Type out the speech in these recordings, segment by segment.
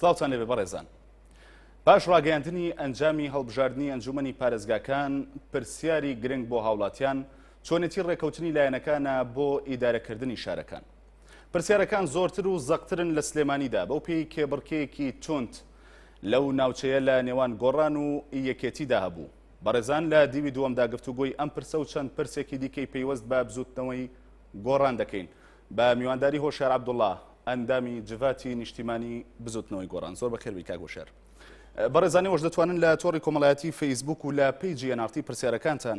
سلااوان لەێ بەڕێزان باش ڕاگەاندنی ئەنجامی هەڵبژاردننی ئەنجومنی پارێزگاکان پرسیاری گرنگ بۆ هاوڵاتیان چۆنێتی ڕێکەوتنی لایەنەکانە بۆ ئیدارەکردنی شارەکان پرسیارەکان زۆرتر و زەقترن لە سلێمانیدا بەو پێی کێبڕکێکی تونند لەو ناوچەیە لە نێوان گۆڕان و یەکێتیدا هەبوو. بەڕێزان لە دیوی دووەمدا گفتوگۆی ئەم پرسە و چەند پرسێکی دیکەی پەیوەست بە بزووتنەوەی گۆڕان دەکەین بە میوانداری هۆشیار عەبدوڵا ئەندامی جڤاتی نیشتیمانی بزووتنەوەی گۆڕان زۆر بەخێر بیکاک هۆشیار بەڕێزانی وەش دەتوانن لە تۆڕی کۆمەڵایەتی فەیسبوک و لە پیجی ئەنارتی پرسیارەکانتان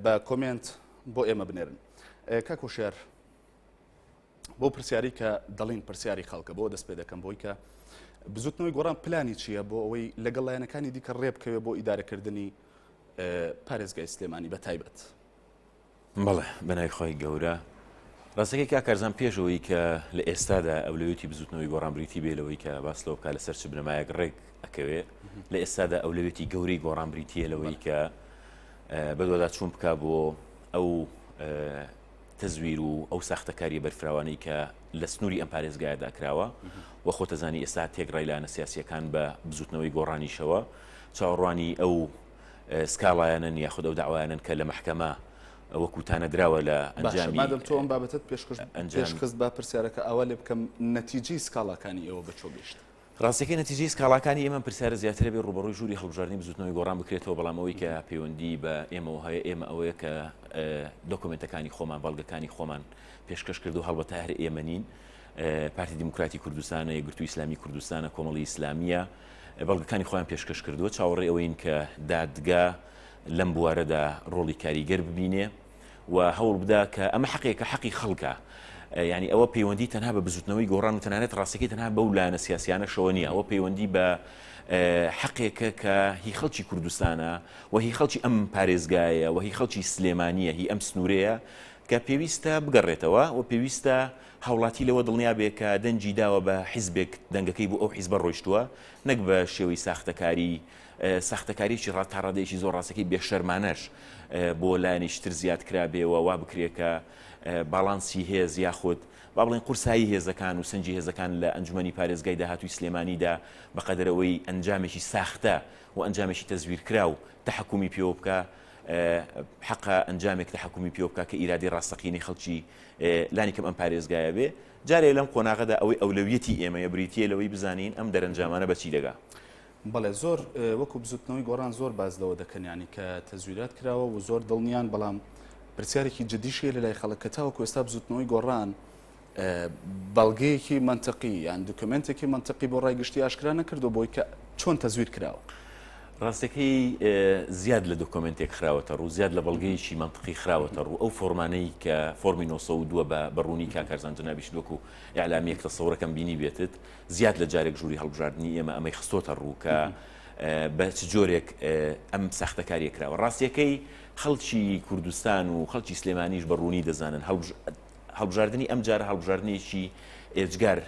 بە کۆمێنت بۆ ئێمە بنێرن کاک هۆشیار بۆ پرسیاری کە دەڵین پرسیاری خەڵکە بۆ دەست پێ دەکەم بۆی کە بزوتنەوەی گۆڕان پلانی چییە بۆ ئەوەی لەگەڵ لایەنەکانی دیکە ڕێبکەوێت بۆ ئیدارەکردنی پارێزگای سلێمانی بە تایبەت بەڵێ بەنای خۆی گەورە ڕاستەکەی کاکارزان پێشەوەی کە لە ئێستادا ئەولەوێتی بزوتنەوەی گۆڕان بریتی بێ لەوەی کە باس لەو کا لەسەر چ بنەمایەک ڕێک ئەکەوێ لە ئێستادا ئەولەوێتی گەورەی گۆڕان بریتە لەوەی کە بەدووادا چوون بک بۆ ئەو تەزویر و ئەو ساختەکاریە بەرفراوانەی کە لە سنووری ئەم پارێزگایەدا کراوە و خۆتەزانی ئێستا تێکڕای لایەنە سیاسیەکان بە بزوتنەوەی گۆڕانیشەوە چاوەڕوانی ئەو سکاڵایەنن یاخود ئەو داوایانن کە لە محکەمە وەکو تانە دراوە لە ئەنجامی تۆ ئەم بابەتت پێشکەش ئەنجام خست با پرسیارەکە ئەوە لێ بکەم نەتیجی سکاڵاکانی ئێوە بە چۆ گەشت ڕاستیەکەی نەتیجەی سکاڵاکانی ئێمەم پرسیارە زیاترە بێت ڕووبەڕووی ژووری هەڵبژاردنی بزووتنەوەی گۆڕان بکرێتەوە بەڵام ئەوەی کە پەیوەندی بە ئێمەوە هەیە ئێمە ئەوەیە کە دۆکۆمێنتەکانی خۆمان بەڵگەکانی خۆمان پێشکەش کردو هەڵبەتە هەر ئێمە نین پارتی دیموکراتی کوردستانە یەکگرتو ئیسلامی کوردستانە کۆمەڵی ئیسلامیە بەڵگەکانی خۆیان پێشکەش کردووە چاوەڕێ ئەوەین کە دادگا لەم بوارەدا ڕۆڵی کاریگەر ببینێ و هەوڵبدە کە ئەمە حەقێکە حەقی خەڵکە یعنی ئەوە پەیوەندی تەنها بە بزوتنەوەی گۆڕان و تەنانەت ڕاستەکەی تەنها بەو لایەنە سیاسیانەشەوە نییە ئەوە پەیوەندی بە حەقێکە کە هی خەڵکی کوردستانە و هی خەڵکی ئەم پارێزگایە و هی خەڵکی سلێمانیە هی ئەم سنوورەیە کە پێویستە بگەڕێتەوە و پێویستە هاوڵاتی لەوە دڵنیا بێ کە دەنگی داوە بە حیزبێک دەنگەکەی بۆ ئەو حیزبە ڕۆیشتووە نەک بە شێوەی ساختەکاری ساختەکاریەکی ڕا تا ڕادەیەکی زۆر ڕاستەکەی بێ شەرمانەش بۆ لایەنێکی تر زیاد کرابێ و وا بکرێ کە باڵانسی هێز یاخود با بڵێن قورسایی هێزەکان و سەنجی هێزەکان لە ئەنجومەنی پارێزگای داهاتووی سلێمانیدا بە قەدەر ئەوەی ئەنجامێکی ساختە و ئەنجامێکی تەزویرکراو تەحەکومی پێوە بکا حەقە ئەنجامێک تەحەکومی پێوە بکا کە ئیرادەی ڕاستەقینەی خەڵکی لانی کەم ئەم پارێزگایە بێ جارێ لەم قۆناغەدا ئەوەی ئەولەویەتی ئێمەیە بریتیە لەوەی بزانین ئەم دەرەنجامانە بەچی دەگا بەڵێ زۆر وەکو بزوتنەوەی گۆڕان زۆر باس لەوە دەکەن یانی کە تەزویرات کراوە و زۆر دڵنیان بەڵام پرسیارێکی جدیشیە لە لای خەڵک کە تاوەکو ئێستا بزوتنەوەی گۆڕان بەڵگەیەکی منطقی یان دکمنتێکی منطقی بۆ ڕای گشتی ئاشکرا نەکردو بۆی کە چۆن تەزویر کراوە. ڕاستەکەی زیاد لە دۆکۆمنتێک خراوەتە ڕوو زیاد لە بەڵگەیەکی منطقی خراوەتە ڕوو ئەو فۆرمانەی کە فۆرمی 1992 بە بەڕوونی کاکەرزان جنابیش وەکو ئەعلامیەک تەسەورەکەم بینی بێتت زیاد لە جارێک ژووری هەڵبژاردنی ئێمە ئەمەی خستۆتە ڕوو کە بە چ جۆرێک ئەم ساختەکاریە کراوە ڕاستیەکەی خەڵکی کوردستان و خەڵکی سلێمانیش بە ڕوونی دەزانن هەڵبژاردننی ئەم جارە هەڵبژاردنێکی ئێجگار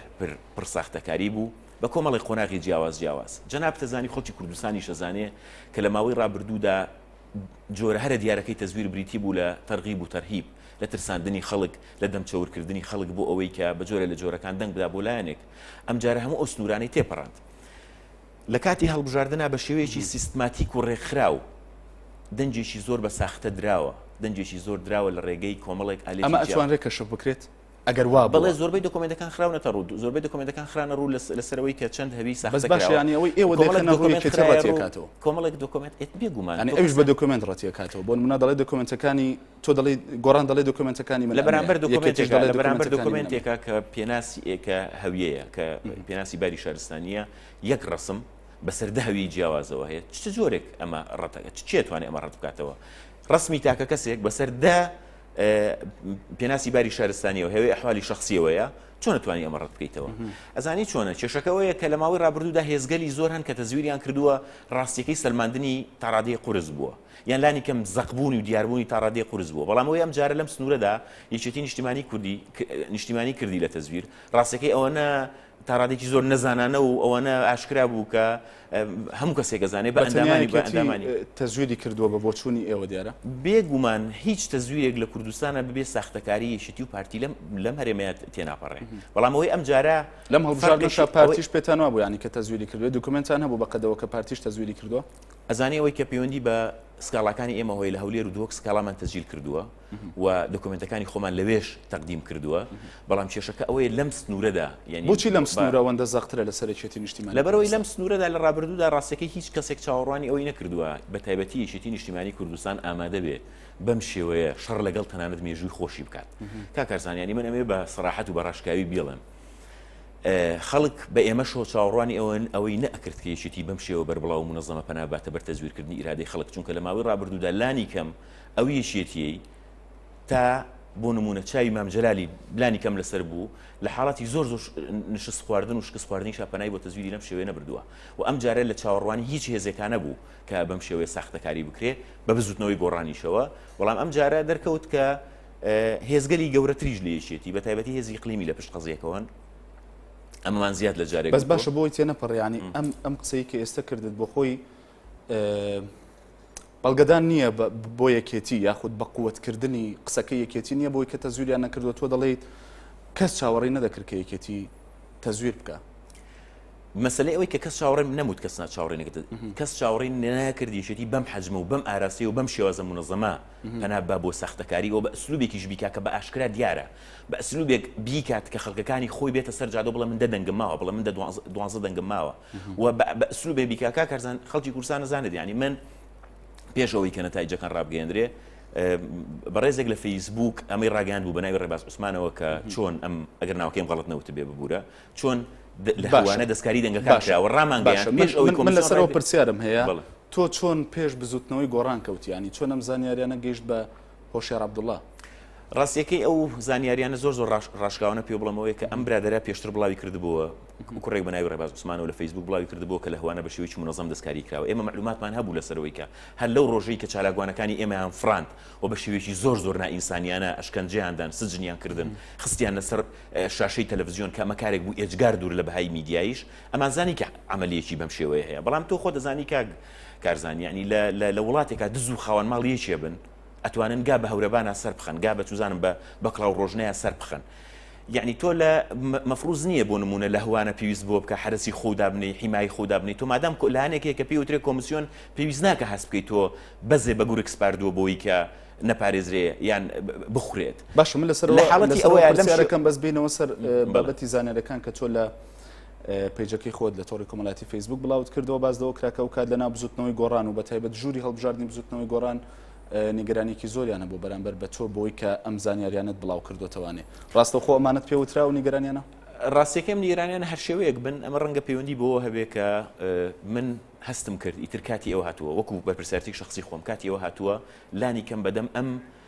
پر ساختەکاری بوو بە کۆمەڵی قۆناغی جیاواز جیاواز جەنابتەزانی خەڵکی کوردستانی شەزانێ کە لە ماوەی ڕابردوودا جۆرە هەرە دیارەکەی تەزویر بریتی بوو لە تەرغیب و تەرهیب، لە ترساندنی خەڵک، لە دەم چەور کردنی خەڵک بۆ ئەوەی کە بە جۆرە لە جۆرەکان دەنگ بدا بۆ لایەنێک. ئەم جارە هەموو ئەو سنوورانەی تێپەڕاند. لە کاتی هەڵبژاردنا بە شێوەیەکی سیستماتیک و ڕێکخراو دەنگێکی زۆر بە ساختە دراوە، دەنگێکی زۆر دراوە لە ڕێگەی کۆمەڵێک ئالێتی جیاواز. ئەمە ئەتوانرێت کەشف بکرێت؟ ئەگەر وا بوو بەڵێ زۆربەی دۆکۆمێنتەکان خراونەتە ڕوو زۆربەی دۆکۆمێنتەکان خرانە ڕوو لەسەرەوەی کە چەند هەوی ساخت بەس باشە ینی ئەوەی ئێوە دەکەنە ڕووی کە ڕەتیکاتەوە کۆمەڵێک دۆکۆمێنت ئێت بێگومان ینی ئەوش بە دۆکۆمێنت ڕەتیکاتەوە بۆ منە دەڵێ دۆکۆمێنتەکانی تۆ دەڵی گۆڕان دەڵێ دۆکۆمێنتەکانی من لە بەرامبەر دۆکۆمێنتێک دەڵێ بەرامبەر دۆکۆمێنتێکە کە پێناسی ئێکە هەویەیە کە پێناسی باری شارستانیە یەک ڕسم بەسەر دەهوی جیاوازەوە هەیە چ جۆرێک ئەمە ڕەتەکە چێتوانێت ئەمە ڕەت بکاتەوە ڕسمی تاکە کەسێک بەسەر دە پێناسی باری شارستانیەوە هەوێ ئەحوالی شخصیەوەیە چۆن توانی ئەمە ڕەت بکەیتەوە ئەزانی چۆنە کێشەکەەوەیە کە لە ماوەی ڕابردوودا هێزگەلی زۆر هەن کە تەزویریان کردووە ڕاستیەکەی سلماندنی تاڕادەی قرس بووە یان لانی کەم زەقبوونی و دیاربوونی تاڕادەی قرس بووە بەڵامەوەی ئەم جارە لەم سنوورەدا یەکێتی نیشتیمانی کوردی نیشتیمانی کردی لە تەزویر ڕاستەکەی ئەوەنە تا ڕادێکی زۆر نەزانانە و ئەوانە ئاشکرا بوو کە هەموو کەسێک ئەزانێ بە ئەندامانی بە ئەندامانی تەزویری کردووە بە بۆچوونی ئێوە دیارە بێگومان هیچ تەزویرێک لە کوردستانە ببێ ساختەکاری یەکێتی و پارتی لەم لەم هەرێمەیە تێناپەڕێ بەڵام ئەوەی ئەم جارە لەم هەڵبژاردنشا پارتیش پێتانوا بوو ینی کە تەزویری کردوێ دوکمنتان هەبوو بە قەدەوە کە پارتیش تەزویری کردووە ئەزانێ ئەوەی کە پەیوەندی بە سکاڵاکانی ئێمە هۆی لە هەولێر و دهۆک سکاڵامان تەزیل کردووە و دۆکۆمێنتەکانی خۆمان لەوێش تەقدیم کردووە، بەڵام کێشەکە ئەوەیە لەم سنوورەدا یانی بۆچی لەم سنوورە ئەوەندە زەقترە لە سەرەکیەتی نیشتیمانی کوردستان؟ لەبەرئەوەی لەم سنوورەدا لە ڕابردوودا ڕاستەکەی هیچ کەسێک چاوەڕوانی ئەوەی نەکردووە بەتایبەتی یەکێتی نیشتیمانی کوردستان ئامادە بێ بەم شێوەیە شەڕ لەگەڵ تەنانەت مێژووی خۆشی بکات کاک کارزان یانی من ئەمەوێ بە سەراحەت و بە ڕاشکاوی بیڵێم خەڵک بە ئێمەشەوە چاوەڕوانی ئەوەن ئەوەی نەئەکرد کە یەکێتی بەم شێوە بەربڵاو و منەزەمە پەنا بباتە بەر تەزویرکردنی ئیرادەی خەڵک چونکە لە ماوەی ڕابردوودا لانی کەم ئەو یەکێتییەی تا بۆ نموونە چاوی مام جەلالی بلانی کەم لەسەر بوو لە حاڵاتی زۆر زۆر نشست خواردن و شکست خواردنی شاپەنای بۆ تەزویری لەم شێوەیە نەبردووە و ئەم جارە لە چاوەڕوانی هیچ هێزێکانە بوو کە بەم شێوەیە ساختەکاری بکرێ بە بزوتنەوەی گۆڕانیشەوە بەڵام ئەم جارە دەرکەوت کە هێزگەلی گەورەتریش لە یەکێتی بە تایبەتی هێزی قلیمی لە پشت قەزیەکەوەن ئەمەمان زیاد لە جارێک بەس باشە بۆی تێ نەپەڕیانی ئەم ئەم قسەی کە ئێستا کردت بۆ خۆی بەڵگەدان نییە بۆ یەکێتی یاخود بە قوتکردنی قسەکە یەکێتی نییە بۆی کە تەزویریان نەکردووە تۆ دەڵیت کەس چاوەڕی نەدەکرد کە یەکێتی تەزویر بکە مەسلەی ئەوەی کە کەس چاوەڕێم نەموت کەس ناچاوڕێ نەکرد کەس چاوەڕی نەکردیشێتی بەم حەجمە و بەم ئاراسی و بەم شێوازە منەزەما پەنا بە بۆ سەختەکاری و بە ئەسلوبێکیش بیکا کە بە ئاشکرا دیارە بە ئەسلوبێک بیکات کە خەڵکەکانی خۆی بێتە سەر جادە بڵێ من دەدەنگم ماوە بڵێ من دوازە دەنگم ماوە و بە ئەسلوبێ بیکا کا کەرزان خەڵکی کورسان نزانێت ینی من پێش ئەوەی کە نەتایجەکان ڕابگەێندرێ بەڕێزێک لە فەیسبوک ئەمەی ڕاگەان بوو بەناوی ڕێباز عوسمانەوە کە چۆن ئەم ئەگەر ناوکەیم غڵت نەوت بێ ببوورە چۆن لەوانە دەستکاری دەنگەکەشەوە ڕامان باش پێش ئەوەی من لەسەرەوە پرسیارم هەیە تۆ چۆن پێش بزوتنەوەی گۆڕان کەوتیانی چۆن ئەم زانیاریانە گەشت بە هۆشیار عەبدوڵا. ڕاستییەکەی ئەو زانیارییانە زۆر زۆر ڕاشکاوانە پێ بڵێم ئەوەیە کە ئەم برادەرە پێشتر بڵاوی کردبووە، کوڕێک بە ناوی ڕێباز عوسمانەوە لە فەیسبووک بڵاوی کردبووە کە لە هەوانە بە شێوەیەکی مونەزەم دەستکاریی کراوە. ئێمە مەعلووماتمان هەبوو لەسەر ئەوەی کە هەر لەو ڕۆژەی کە چالاکوانەکانی ئێمەیان فڕاند و بە شێوەیەکی زۆر زۆر نائینسانییانە ئەشکەنجەیان دان، سجنیان کردن، خستیاننە سەر شاشەی تەلەفزیۆن کە ئەمە کارێک بوو ئێجگار دوور لە بەهای میدیاییش ئەمانزانی کە عەمەلییەکی بەم شێوەیە هەیە. بەڵام تۆ خۆت ئەزانی کاک کارزان، یەعنی لە لە لە وڵاتێکا دز و خاوەن ماڵ یەکێ بن، ئەتوانن گا بە هەورەبانا سەر بخەن، گا بە چوزانم بە بە کڵاو ڕۆژنەیا سەر بخەن. یەعنی تۆ لە مە مەفڕوز نییە بۆ نموونە لە هوانە پێویست بەوە بکا حەرەسی خۆو دابنێی، حیمایی خۆو دابنێی، تۆ مادام کۆ لایەنێک هەیە کە پێی وترێ کۆمسیۆن پێویست ناکا هەست بکەی تۆ بەزێ بە گورگ سپاردووە بۆی کە نەپارێزرێ یان بخورێت. باشە من لە سەر لە ئەوە حاڵەتی لە سەر ئەوەیا ئەوە لەم پرسیارە شێ کەم بەس بێینەوە سەر بەڵێ. بابەتی زانیارەکان کە تۆ لە پەیجەکەی خۆت لە تۆڕی کۆمەڵاتی فەیسبوک بڵاوت کردەوە باس لەوە کرا کە ئەو کات لەناو بزوتنەوەی گۆڕان و بە تایبەت ژووری هەڵبژاردنی بزوتنەوەی گۆڕان نیگەرانێکی زۆریانە بۆ بەرامبەر بە تۆ بۆی کە ئەم زانیاریانت بڵاو کردوتەوانێ ڕاستەخۆ ئەمانەت پێ وترا و نیگەرانیانە ڕاستیەکەم نیگەرانیان هەر شێوەیەک بن ئەمە ڕەنگە پەیوەندی بۆ هەبێ کە من هەستم کرد ئیتر کاتی ئەوە هاتووە وەکو بەرپرسیارتی شخصی خۆم کاتی ئەوە هاتووە لانی کەم بەدەم ئەم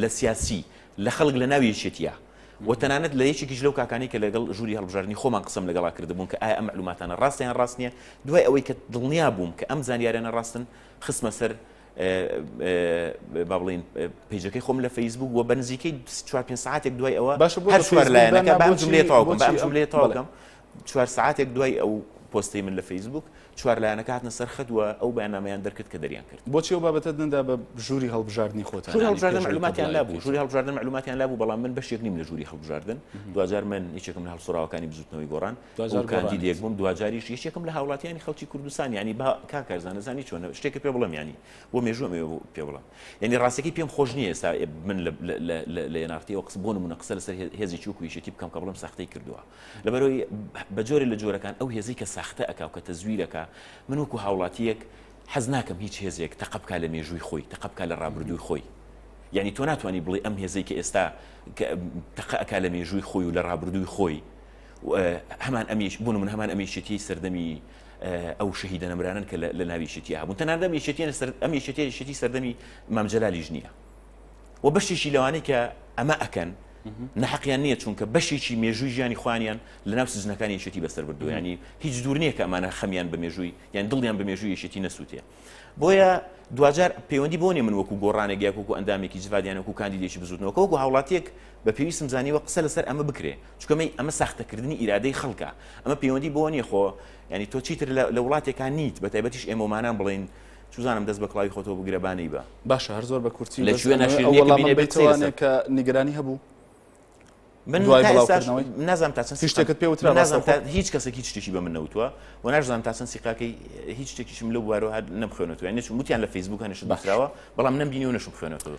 لە سیاسی، لە خەڵک لە ناو یەکێتییە و تەنانەت لە یەکێکیش لەو کاکانەی کە لەگەڵ ژووری هەڵبژاردنی خۆمان قسەم لەگەڵا کردبوون کە ئایا ئەم مەعلووماتانە ڕاستە یان ڕاست نییە، دوای ئەوەی کە دڵنیا بووم کە ئەم زانیاریانە ڕاستن، خستمە سەر با بڵێین پەیجەکەی خۆم لە فەیسبووک و بە نزیکەی چوار پێنج سەعاتێک دوای ئەوە هەر چوار لایەنەکە، با ئەم جوملەیە تەواو بکەم، با ئەم جوملەیە تەواو بکەم. چوار سەعاتێک دوای ئەو پۆستەی من لە فەیسبووک، چوار لایەنەکە هاتنە سەر خەت و ئەو بەیاننامەیان دەرکرد کە دەریان کرد. بۆچی ئەو بابەتەت نەدا بە ژووری هەڵبژاردنی خۆتان؟ ژووری یانی هەڵبژاردن پێش ئەوەی مەعلووماتیان تابلۆ لابوو، ژووری ئایکیتەوە؟ هەڵبژاردن مەعلووماتیان لابوو، بەڵام من بەشێک نیم لە ژووری هەڵبژاردن، دواجار من یەکێکم لە هەڵسووڕاوەکانی بزووتنەوەی گۆڕان دواجار و کاندیدێک گۆڕانیت. بووم، دواجاریش یەکێکم لە هاوڵاتییانی خەڵکی کوردستان، یانی با کاک کارزان ئەزانی چۆنە شتێکت پێ بڵێم یانی بۆ مێژووم ئەوێ بۆ پێ بڵێم، یانی ڕاستەکەی پێم خۆش نییە ئێستا من لە لە لە لە لە یەناغتییەوە قسە بۆ نموونە قسە لەسەر هێ هێزێکی وەکوو یەکێتی بکەم کە بڵێم ساختەی کردووە، لەبەرئەوەی بە جۆرێ لە جۆرەکان ئەو هێزەی کە ساختە ئەکا و کە تەزویر ئەکا، من وەکو هاوڵاتییەک حەز ناکەم هیچ هێزێک تەقە بکا لە مێژووی خۆی، تەقە بکا لە ڕابردووی خۆی. یانی تۆ ناتوانی بڵێی ئەم هێزەی کە ئێستا تەقە ئەکا لە مێژووی خۆی و لە ڕابردووی خۆی، هەمان ئەم یەک، بۆ نموونە هەمان ئەم یەکێتییەی سەردەمی ئەو شەهیدە نەمرانەن کە لە ناو یەکێتییە هەبوون، تەنانەت ئەم یەکێتییە ئەم یەکێتییە یەکێتیی سەردەمی مام جەلالیش نییە. و بەشێکی لەوانەی کە ئەمە ئەکەن نەحقیان نییە چونکە بەشێکی مێژووی ژیانی خوانیان لە ناو سزنەکان یەکێتی بەسەر بردو ینی هیچ دوور نییە کە ئەمانە خەمیان بە مێژووی یان دڵیان بە مێژووی یەکێتی نەسووتێ بۆیە دوجار پەیوەندی بۆنێ من وەکو گۆڕانێک یاکوکو ئەندامێکی جڤادیان وەکو کاندیدێکی بزوتنەوەکە وەکو هاوڵاتیەک بە پێویستم زانیوە قسە لەسەر ئەمە بکرێ چکەمەی ئەمە ساختەکردنی ئیرادەی خەڵکە ئەمە پەیوەندی بۆ نیە خۆ ینی تۆ چیتر لە وڵاتێکان نیت بە تایبەتیش ئێمەمانان بڵین چوزانم دەست بە کڵاوی خۆتەوە بگرە با نەی بە. باشە هەر زۆر بە کورتی بەس ئەمەوێ ئەو وەڵامەم بەیتەوە ئەنێ کە نیگەرانی هەبوو. من دوای بڵاوکردنەوەی نازم تا چەند شتێکت پێ وترا نازم تا هیچ کەسێک هیچ شتێکی بە من نەوتوە و ناشزانم تا چەند سیقاکەی هیچ شتێکیشم لە بوارەوە نەبخوێنێتوە نەچوم وتیان لە فەیسبووک هەنیشت بەخراوە بەڵام نەمبینی و نەشم خوێنێتەوە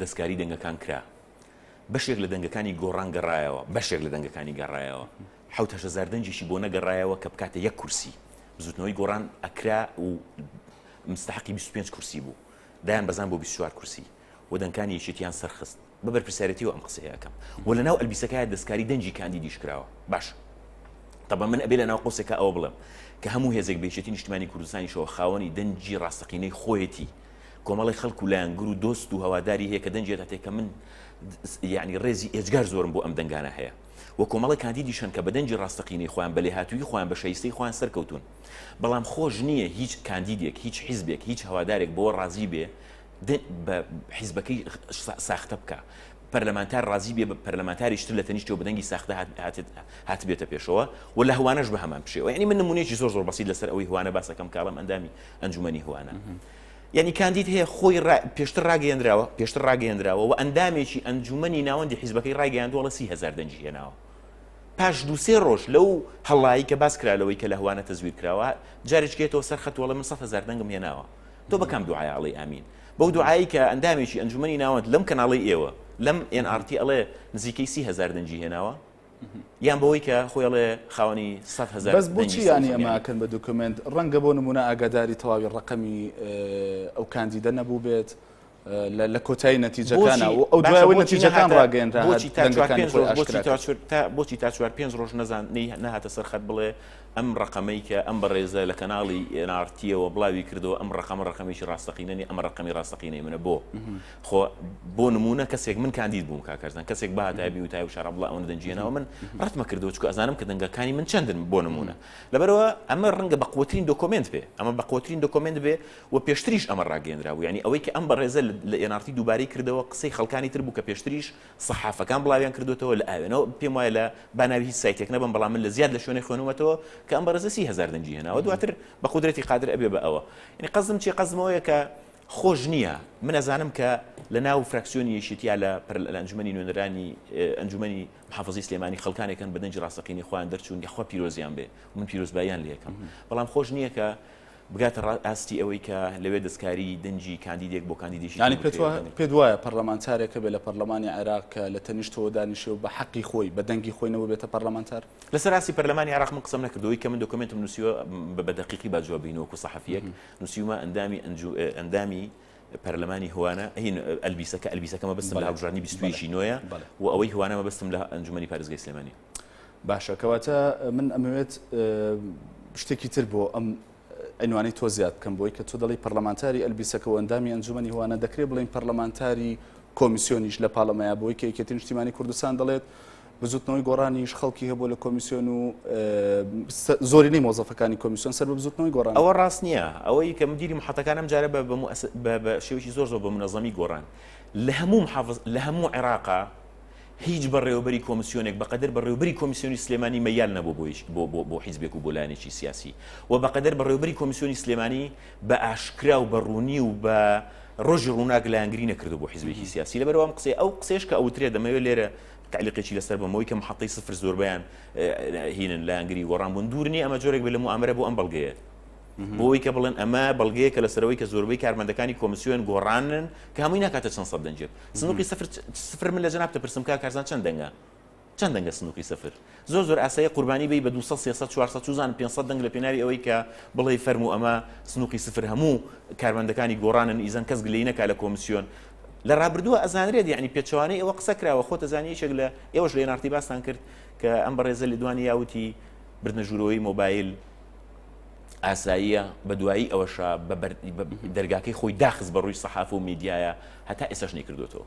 دەستکاری دەنگەکان کرا. بەشێک لە دەنگەکانی گۆڕان گەڕایەوە، بەشێک لە دەنگەکانی گەڕایەوە. حەوت هەشت هەزار دەنگێکی بۆ نەگەڕایەوە کە بکاتە یەک کورسی. بزووتنەوەی گۆڕان ئەکرا و مستەحەقی بیست و پێنج کورسی بوو. دایانبەزاند بۆ بیست و چوار کورسی و دەنگکانی یەکێتییان سەرخست. بە بەرپرسیارێتییەوە ئەم قسەیە ئەکەم. وە لە ناو ئەلبیسەکایە دەستکاری دەنگی کاندیدیش کراوە. باشە. تەبعەن من ئەبێ لە ناو قەوسێکا ئەوە بڵێم کە هەموو هێزێک بە یەکێتیی نیشتمانیی کوردستانیشەوە خاوەنی دەنگی ڕاستەقینەی خۆیەتی. کۆمەڵی خەڵک و لایەنگر و دۆست و هەواداری هەیە کە دەنجێت هەتێک کە من یعنی ڕێزی ئێجگار زۆرم بۆ ئەم دەنگانە هەیە و کۆمەڵی کاندیدیشن کە بەدەنجی ڕاستەقینەی خۆیان بە لێهاتووی خۆیان بە شایستەی خۆیان سەرکەوتون بەڵام خۆش نییە هیچ کاندیدێک هیچ حیزبێک هیچ هەوادارێک بۆ ڕازی بێ بە حیزبەکەی ساختە بکە پەرلەمانتار ڕازی بێ بە پەرلەمانتاریشتر لە تەنیشتە و بەدەنگی ساختە هاتبێتە پێشەوە و لە هوانەش بە هەمان پشێوە ینی من نمونێکی زۆر زۆر بەسیید لەسەر ئەوەی هوانە باسەکەم کاڵم ئەندامی ئەنجومەنی هوانە. یعنی کاندید هەیە خۆی پێشتر ڕاگەیەنراوە پێشتر ڕاگەیەنراوە و ئەندامێکی ئەنجومنی ناوەندی حیزبەکەی ڕایگەیاندووەڵە سی هزار دەنجی هێناوە پاش دووسێ ڕۆژ لەو هەڵایی کە باس کرالەوەی کە لە هوانە تەزویر کراوە جارێکێتەوە سەر خەتوەڵە من سە هزار دەنگم هێناوە تۆ بەکەم دوعااڵی ئامین بەو دوعایی کە ئەندامێکی ئەنجومی ناوەند لەم کەناڵی ئێوە لەم NRT ئەڵێ نزیکەی سی هزار دەنجی هێناوە یان بەوەی کە خۆی ئەڵێ خاوەنی سەد هەزار بەس بۆچی دەنگی یانی سەوزەمیانە. ئەماکەن بە دوکمێنت ڕەنگە بۆ نمونە ئاگاداری تەواوی ڕەقەمی ئەو کاندیدە نەبوو بێت اه، لە لە کۆتایی نەتیجەکانە بۆچی و ئەو باشە دوایەوەی بۆچی نەتیجەکان نەهاتە ڕاگەیەنرا بۆچی هەر تا چوار دەنگەکانی پێنج خۆی ڕۆژ بۆچی ئاشکرا تا کرد چوار تا بۆچی تا چوار پێنج ڕۆژ نەزان نەی نەهاتە سەر خەت بڵێ ئەم ڕەقەمەی کە ئەم بەڕێزە لە کەناڵی ئێن ئاڕ تییەوە بڵاوی کردەوە ئەم ڕەقەمە ڕەقەمێکی ڕاستەقینە نیە ئەمە ڕەقەمی ڕاستەقینەی منە بۆ خۆ بۆ نمونە کەسێک من کاندید بووم کاکەرزان کەسێک باتای بیوتای و شار بڵێ ئەوەن دەنجێنەوە من ڕەتمە کردو چکو ئەزانم کە دەنگەکانی من چندن بۆ نمونە لەبەرەوە ئەمە ڕەنگە بە قوترین دۆکۆمنت بێ ئەمە بە قوترین دۆکۆمنت بێ و پێشتریش ئەمە ڕاگەندراوە ینی ئەوەی کە ئەم بەڕێزە لە ئێنارتی دووبارەی کردەوە قسەی خەڵکانی تر بوو کە پێشتریش سەحافەکان بڵاویان کردوێتەوە لە ئاوێنەوە پێم وایە لە باناوی هیچ سایتێک نەبم بەڵام من لە زیاد لە شوێنی خوێنومەتەوە کە ئەم بەڕێزە سی هزار دەنجی هێناوە دواتر بە قدرەتی قادر ئەبێ بە ئەوە ینی قەزم چی قەزمەوەیە کە خۆش نییە، من ئەزانم کە لە ناو فراکسیۆنی یەکێتی یا لە پەرلە لە ئەنجومەنی نوێنەرانی ئەنجومەنی محافزەی سلێمانی خەڵکانێک هەن بە دەنگی ڕاستەقینەی خۆیان دەرچوون یەخوا پیرۆزیان بێ و من پیرۆزباییان لێ ئەکەم بەڵام خۆش نییە کە بگاتە ڕا ئاستی ئەوەی کە لەوێ دەستکاری دەنگی کاندیدێک بۆ کاندیدێکی تر یانی پێت بکرێ وا بە دەنگ پێت وایە پەرلەمانتارێک هەبێ لە پەرلەمانی عێراق کە لە تەنیشتەوە دانیشێ و بە حەقی خۆی بە دەنگی خۆی نەوە بێتە پەرلەمانتار؟ لەسەر ئاستی پەرلەمانی عێراق من قسەم نەکردووە ئەوەی کە من دۆکۆمێنتم نووسیوە بە بە دەقیقی با جواب بینە وەکوو سەحەفییەک نوسیومە ئەندامی ئەنجو ئەندامی پەرلەمانی هوانە هین ئەلبیسە کە ئەلبیسەکە مەبستم لە هەڵبژاردنی 21 نوێە و ئەوەی هوانە مەبستم لە ئەنجومەنی پارێزگای سلێمانی باشە کەواتە من ئەمەوێت شتێکی تر بۆ ئەم ئەنوانی تۆ زیاد بکەم بۆی کە تۆ دەڵی پەرلەمانتاری ئەلبیسەکە و ئەندامی ئەنجومنی هوانە دەکرێت بڵین پەرلەمانتاری کۆمیسیۆنیش لە پاڵەمەیە بۆی کە یەکێتی نیشتیمانی کوردستان دەڵێت بزوتنەوەی گۆڕانیش خەڵکی هەبووە لە کۆمیسیۆن و زۆرینەی مۆزەفەکانی کۆمیسیۆن سەر بە بزوتنەوەی گۆڕان. ئەوە ڕاست نییە، ئەوەی کە مدیری محەتەکان ئەم جارە بە بە بە شێوەیەکی زۆر زۆر بە منەزەمی گۆڕان لە هەموو محافز لە هەموو عێراقا هیچ بەڕێوەبەری کۆمیسیۆنێک بەقەدەر بەڕێوەبەری کۆمیسیۆنی سلێمانی مەیال نەبوو بۆ هیچ بۆ بۆ بۆ حیزبێک و بۆ لایەنێکی سیاسی و بەقەدەر بەڕێوەبەری کۆمیسیۆنی سلێمانی بە ئاشکرا و بە ڕوونی و بە ڕۆژی ڕووناک لایەنگری نەکردو بۆ حیزبێکی سیاسی لەبەرەوەم قسەی ئەو قسەیش کە ئەوترێ دەمەوێت لێرە تەعلیقێکی لەسەر بم ئەوەی کە محەتەی سفر زۆربەیان هینن لایەنگری گۆڕان بوون دوور نیە ئەمە جۆرێک بێت لە موامەرە بۆ ئەم بەڵگەیە بۆی کە بڵێن ئەمە بەڵگەیە کە لەسەرەوەی کە زۆربەی کارمەندەکانی کۆمسیۆن گۆڕانن کە هەمووی ناکاتە چەند سەد دەنجێت سنووقی سفر سفر من لە جناب دەپرسم کا کارزان چەند دەنگە چەند دەنگە سنووقی سفر زۆر زۆر ئاسایە قوربانی بی بە دوو سەد سێ سەد چوار سەد چوزانم پێنج سەد دەنگ لە پێناوی ئەوەی کە بڵێی فەرموو ئەمە سنوقی سفر هەموو کارمەندەکانی گۆڕانن ئیزن کەس گلەی نەکا لە کۆمسیۆن لە رابردووە ئەزانرێت یعنی پێچەوانەی ئەوە قسە کراوە خۆ تەزانی یەکێک لە ئێوەش لە نارتی باستان کرد کە ئەم بەڕێزە لە دوانی یاوتی بردنە ژوورەوەی مۆبایل ئاساییە بە دوایی ئەوەشە بە دەرگاکەی خۆی داخست بە ڕووی سەحاف و میدیایە هەتا ئێسش نەیکردوێتەوە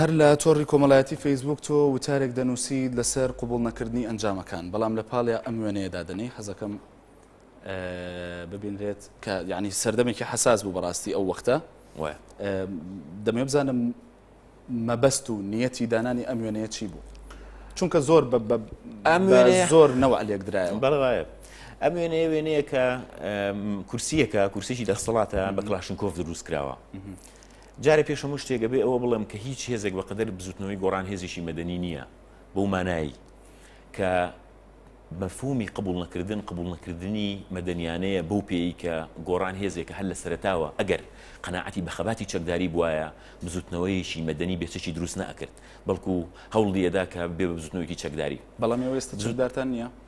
هەر لە تۆڕی کۆمەڵایەتی فەیسبوک تۆ وتارێک دەنووسی لەسەر قوبول نەکردنی ئەنجامەکان بەڵام لە پاڵێ ئەم وێنەیەدا دەنی حەزەکەم ببینرێت کە ینی سەردەمێکی حساس بوو بەڕاستی ئەو وەختە دەمێ بزانم مەبەست و نیەتی دانانی ئەم وێنەیە چی بوو چونکە زۆر بە زۆر نەوە لێکدرایە بەڵایە ئەم وێنەیە وێنەیە کە کورسیەکە کورسێکی دەستەڵاتە بە کلاشنکۆف دروست کراوە. جارە پێشەمو شتێکە بێ ئەوە بڵێم کە هیچ هێزێک بەقدر بزوتنەوەی گۆڕان هێزیشی مەدەنی نییە بۆ مانایی کە مەفهومی قبول نەکردن قبول نەکردنی مەدەنیانەیە بەو پێی کە گۆڕان هێزێکە هەر لە سەرتاوە ئەگەر قەنەعەتی بە خەباتی چەکداری بواە بزوتنەوەیەکی مەدەنی بێچەکی دروست ناکرد بەڵکو هەوڵی ئەدا کە بێ بزوتنەوەیەکی چەکداری بەڵام ئێستا چەکدارتان نییە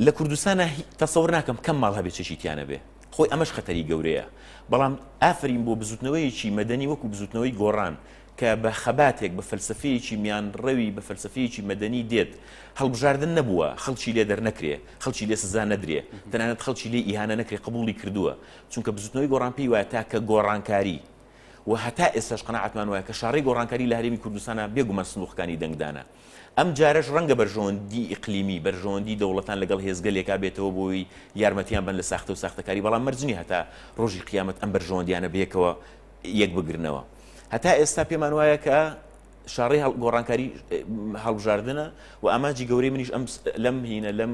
لە کوردستانا هی تەسەور ناکەم کەم ماڵ هەبێ چەکی تیا نەبێ خۆی ئەمەش خەتەری گەورەیە بەڵام ئافرین بۆ بزوتنەوەیەکی مەدەنی وەکو بزوتنەوەی گۆڕان کە بە خەباتێک بە فەلسەفەیەکی میان ڕەوی بە فەلسەفەیەکی مەدەنی دێت هەڵبژاردن نەبووە خەڵکی لێ دەرنەکرێ خەڵکی لێ سزا نەدرێ تەنانەت خەڵکی لێ ئیهانە نەکرێ قبوڵی کردووە چونکە بزوتنەوەی گۆڕان پێی وایە تاکە گۆڕانکاری و هەتا ئێستاش قەناعەتمان وایە کە شاڕێی گۆڕانکاری لە هەرێمی کوردستانا بێگومان سندوقەکانی دەنگدانە ئەم جارەش ڕەنگە بەرژەوەندی ئیقلیمی، بەرژەوەندی دەوڵەتان لەگەڵ هێزگەلێکا بێتەوە بۆی یارمەتیان بەن لە ساختە و ساختەکاری، بەڵام مەرج نیە هەتا ڕۆژی قیامەت ئەم بەرژەوەندیانە بەیەکەوە یەک بگرنەوە. هەتا ئێستا پێمان وایە کە شاڕێی گۆڕانکاری هەڵبژاردنە و ئامانجی گەورەی منیش ئەم لەم هینە لەم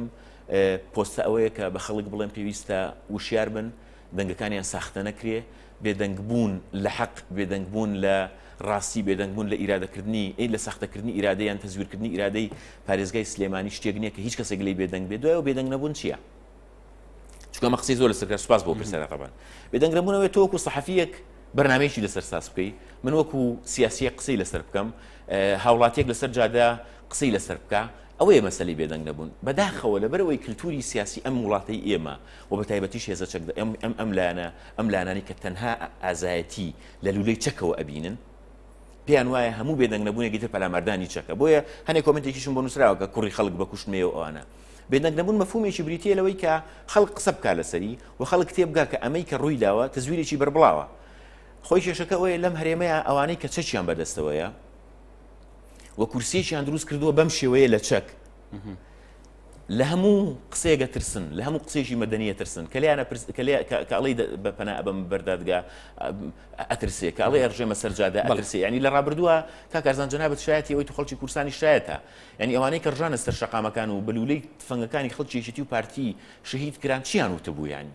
پۆستە ئەوەیە کە بە خەڵک بڵێم پێویستە وشیار بن، دەنگەکانیان ساختە نەکرێ، بێدەنگبوون لە حەق، بێدەنگبوون لە ڕاستی، بێدەنگبوون لە ئیرادەکردنی، ئەی لە ساختەکردنی ئیرادە یان تەزویرکردنی ئیرادەی پارێزگای سلێمانی شتێک نییە کە هیچ کەسێک لێی بێدەنگ بێت، دوای ئەوە بێدەنگ نەبوون چییە؟ چونکە ئەمە قسەی زۆر لەسەر کرا، سوپاس بۆ پرسیارە تەبەن. بێدەنگ نەبوون ئەوەیە تۆ وەکو سەحەفییەک بەرنامەیەکی لەسەر ساز بکەی، من وەکو سیاسییەک قسەی لەسەر بکەم، هاوڵاتییەک لەسەر جادە قسەی لەسەر بکا، ئەوەیە مەسەلەی بێدەنگ نەبوون. بەداخەوە لەبەر ئەوەی کلتووری سیاسی ئەم وڵاتەی ئێمە و بە تایبەتیش هێزە چەک ئەم ئەم لایەنە ئەم لایەنانی کە تەنها ئازایەتی لە لولەی چەکەوە ئەبینن پێیان وایە هەموو بێدەنگ نەبوونێکی تر پەلاماردانی چەکە بۆیە هەنێک کۆمنتێکیشم بۆ نووسراوە کە کوڕی خەڵک بە کوشتمێ و ئەوانە بێدەنگ نەبوون مەفهومێکی بریتیە لەوەی کە خەڵک قسە بکە لەسەری و خەڵک تێبگا کە ئەمەی کە ڕووی داوە تزویرێکی بەربڵاوە خۆی کێشەکە ئەوەیە لەم هەرێمەیە ئەوانەی کە چەکیان بەدەستەوەیە و کورسیەکیان دروست کردووە بەم شێوەیە لە چەک لە هەموو قسەیەک ئەترسن، لە هەموو قسەیەکی مەدەنی ئەترسن، کە لێیان ئەپرس کە لێ کە کە ئەڵێی دە بە پەنا ئەبەم بەر دادگا ئە ئەترسێ، کە ئەڵێی ئەڕژێمە سەر جادە بەڵێ. ئەترسێ، یانی لە ڕابردووە کاک ئەرزان جەنابت شایەتی ئەوەیت و خەڵکی کوردستانیش شایەتە، یانی ئەوانەی کە ڕژانە سەر شەقامەکان و بە لوولەی تفەنگەکانی خەڵکی یەکێتی و پارتی شەهید کران چییان وتبوو یانی؟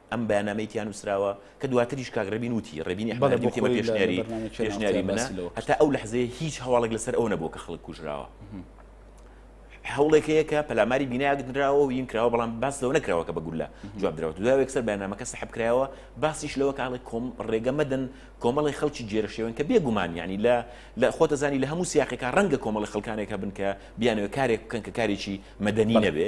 ئەم بەیاننامەی تیا نووسراوە، کە دواتریش کاک ڕێبین وتی، ڕێبینی ئەحمەد ئەحمەدی وتی ئەمە پێشنیاری پێشنیاری منە، هەتا ئەو لەحزەیە هیچ هەواڵێک لەسەر ئەوە نەبووە کە خەڵک کوژراوە. هەوڵێک هەیە کە پەلاماری بینایەک نراوە و ین کراوە بەڵام باس لەوە نەکراوە کە بە گوللە جواب درەوە دوای یەکسەر بەیاننامەکە سەحب کرایەوە باسیش لەوە کاڵی کۆم ڕێگە مەدەن کۆمەڵی خەڵکی گێرە شێوێن کە بێگومان یعنی لە لە خۆتەزانی لە هەموو سیاقێکا ڕەنگە کۆمەڵی خەڵکانێک هەبن کە بیانەوە کارێک بکەن کە کارێکی مەدەنی نەبێ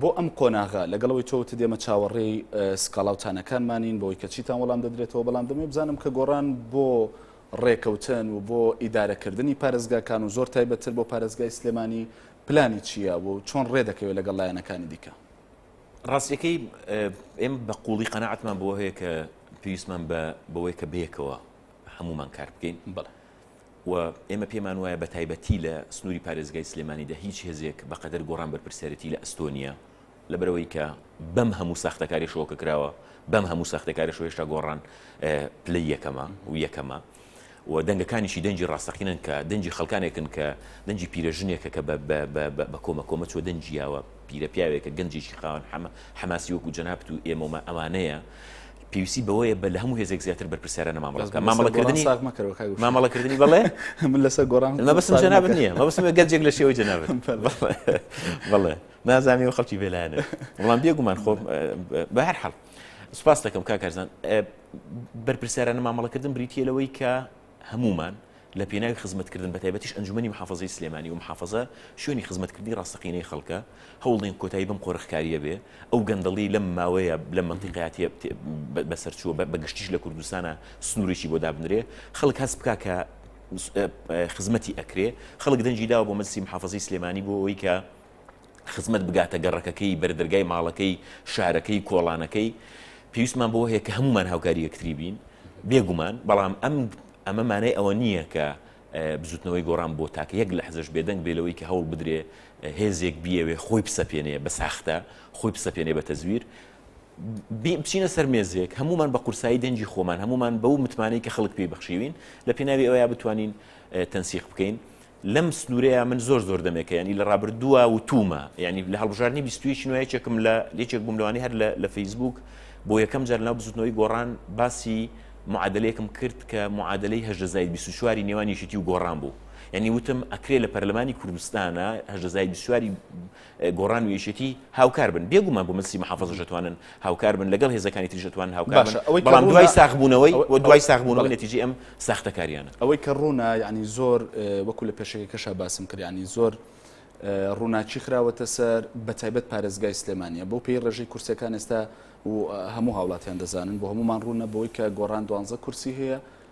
بۆ ئەم قۆناغە لەگەڵ ئەوەی تۆ وتت ئێمە چاوەڕێی سکاڵا و تانەکانمانین بۆی کە چیتان وەڵام دەدرێتەوە بەڵام دەمەوێت بزانم کە گۆڕان بۆ ڕێکەوتن و بۆ ئیدارەکردنی پارێزگاکان و زۆر تایبەتتر بۆ پارێزگای سلێمانی پلانی چییە و چۆن ڕێ دەکەوێت لەگەڵ لایەنەکانی دیکە ڕاستیەکەی ئێم بە قوڵی قەنەعاتمان بۆ هەیە کە پێویستمان بە بەوەی کە بەیەکەوە هەمومان کار بکەین بەڵێ و ئێمە پێمان وایە بە تایبەتی لە سنووری پارێزگای سلێمانیدا هیچ هێزێک بە قەدەر گۆڕان بەرپرسیارێتی لە ئەستۆ نییە لەبەر ئەوەی کە بەم هەموو ساختەکاریشەوە کە کراوە بەم هەموو ساختەکارش و هێشتا گۆڕان پلەی یەکەمە و یەکەمە و دەنگەکانیشی دەنجی ڕاستەقینەن کە دەنجی خەڵکانێکن کە دەنجی پیرەژنێکە کە بە کۆمە کۆمە چوە دەنجیاوە پیرە پیاوێکە گەنجێکی خاوەن حەمە حەماسی وەکو جەنابت و ئێمە و مە ئەوانەیە پێویستی بەوەیە بە لە هەموو هێزێک زیاتر بەرپرسیارانە مامەڵە بکات مامەڵە کردنی ساغ مەکەرەوە کاک گوشی مامەڵە کردنی بەڵێ من لەسەر گۆڕان مە بەسم ساغ جەنابت مەکە. نییە مە بەسم گەنجێک لە شێوەی جەنابت بەڵێ نازانانی و خەڵکی بێلایەنە وەڵام بێگومان خۆ بە هەر حەڵ سوپاس دەکەم کاک هەرزان بەرپرسیارانە مامەڵەکردن بریتییە لەوەی کە هەموومان لە پێناوی خزمەتکردن بەتایبەتیش ئەنجومەنی محافەزەی سلێمانی و محافەزە شوێنی خزمەتکردنی ڕاستەقینەی خەڵکە هەوڵدەین کۆتایی بەم قۆرخکاریە بێ ئەو گەندەڵی لەم ماوەیە لەم مەنتیقەیا تێ بەسەرچووە بەگشتیش لە کوردستانە سنورێکی بۆ دابنرێ خەڵک هەست بکا کە خزمەتی ئەکرێ خەڵک دەنجی داوە بۆ مەجلسی محافەزەی سلێمانی بۆ ئەوەی کە خزمەت بگاتە گەڕەکەکەی، بەردەرگای ماڵەکەی، شارەکەی، کۆڵانەکەی. پێویستمان بەوە هەیە کە هەموومان هاوکاری یەکتری بین، بێگومان، بەڵام ئەم ئەمە مانای ئەوە نییە کە بزووتنەوەی گۆڕان بۆ تاکە یەک لەحزەش بێدەنگ بێ لەوەی کە هەوڵ بدرێ هێزێک بیەوێ خۆی بسەپێنێ بە ساختە، خۆی بسەپێنێ بە تەزویر. بی بچینە سەر مێزێک، هەموومان بە قورسایی دەنگی خۆمان، هەموومان بەو متمانەی کە خەڵک پێی بەخشیوین، لە پێناوی ئەوەیا بتوانین تەنسیق بکەین. لەم سنوورەیا من زۆر زۆر دەمێکە یانی لە ڕابردووا وتوومە یانی لە هەڵبژاردنی بیست و یەک نوێ یەکێکم لە یەکێک بووم لەوانەی هەر لە فەیسبووک بۆ یەکەم جار لەناو بزووتنەوەی گۆڕان باسی معادلەیەکم کرد کە معادلەی هەژدە زاید بیست و چواری نێوان یەکێتی و گۆڕان بوو یانی وتم ئەکرێ لە پەرلەمانی کوردستانە هەژدە زاید بیست و چواری گۆڕان و یەکێتی هاوکار بن، بێگوومان بۆ مەترسی محافەزەش ئەتوانن هاوکار بن، لەگەڵ هێزەکانی تریش ئەتوانن هاوکار بن، بەڵام دوای ساخبوونەوەی و دوای ساخبوونەوەی نەتیجەی ئەم ساختەکارییانە. ئەوەی کە ڕوونە یانی زۆر وەکوو لە پێشەکیەکەشا باسم کرد یانی زۆر ڕووناکی خراوەتە سەر بە تایبەت پارێزگای سلێمانیە بۆ پێی ڕێژەی کورسیەکان ئێستا و هەموو هاوڵاتیان دەزانن بۆ هەمومان ڕوونە بۆی کە گۆڕان دوانزە کورسی هەیە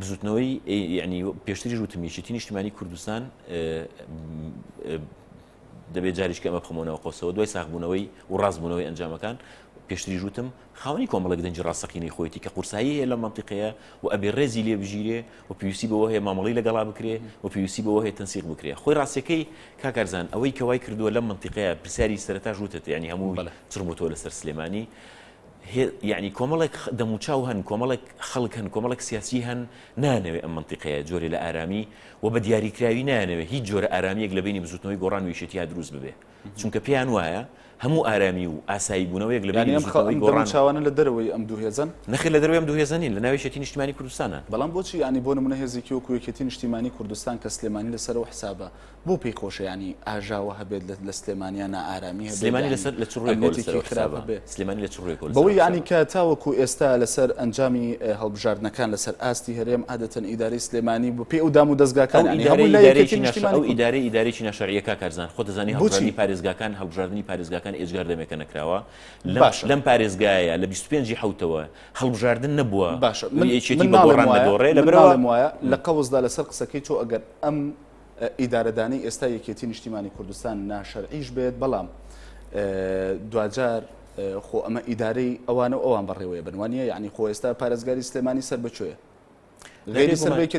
بزوتنەوەی یعنی پێشتریش وتم یەکێتی نیشتمانی کوردستان دەبێت جاریش کەمە بخمەوەەوە قۆسەوە دوای ساخبوونەوەی و ڕاستبوونەوەی ئەنجامەکان پێشتری ژوتم خاونی کۆمەڵک دەنجی ڕاستەقینەی خۆیەتی کە قورسایی هەیە لە منتیقەیە و ئەبێ ڕێزی لێ بژیرێ و پێویستی بەوە هەیە مامەڵی لەگەڵا بکرێ و پێویستی بەوە هەیە تەنسیق بکرێ خۆی ڕاستەکەی کاکارزان ئەوەی کەوای کردووە لە منتیقەیە پرسیاری سەرتا ژوتت ینی هەموو چڕبووەوە لەسەر سلێمانی هێ یەعنی کۆمەڵێک خ دەموچاو هەن کۆمەڵێک خەڵک هەن کۆمەڵێک سیاسی هەن نایانەوێ ئەم مەنتیقەیە جۆرێ لە ئارامی و بە دیاریکراوی نایانەوێ هیچ جۆرە ئارامیەک لە بەینی بزوتنەوەی گۆڕان و یەکێتیا دروست ببێ چونکە پێیان وایە هەموو ئارامی و ئاسایی بونەوەیەک لە بەینی بزوتنەوەی گۆڕان یەعنی ئەم خە ئەم دەموچاوانە لە دەرەوەی ئەم دوو هێزەن؟ نەخێر لە دەرەوەی ئەم دوو هێزە نین لە ناو یەکێتی نیشتیمانی کوردستانە. بەڵام بۆچی یەعنی بۆ نمونە هێزێکی وەکو یەکێتی نیشتیمانی کوردستان کە سلێمانی لە سەر ئەو حسابە بۆ پێی خۆشە ینی ئاژاوە هەبێت لە سلێمانیا نائارامی هەبێمانی بەوەی ینی کە تاوەکو ئێستا لەسەر ئەنجامی هەڵبژاردنەکان لەسەر ئاستی هەرێم عادەتەن ئیداری سلێمانی بۆ پێ و دام و دەستگاکان ئیداری ئیدارێکی ناشریەکە کارزان خۆ دەزانانی بچی پارێزگاکان هەڵبژاردننی پارێزگاکان ئێجگار دەمێکە نەکراوە باش لەم پارێزگایە لە 25 حوتەوە هەڵبژاردن نەبووە باش من یەکی بۆڕێ لە برەوەم وایە لە قەوزدا لەسەر قسەکەی تۆ ئەگەر ئەم ئیدارەدانی ئێستای یەکێتی نیشتیمانی کوردستان ناشەرعیش بێت بەڵام دواجار خۆ ئەمە ئیدارەی ئەوانە و ئەوان بەڕێوەیە بنوانە یعنی خۆ ئێستا پارێزگاری سلێمانی سەر بچێ غێری سەرێکی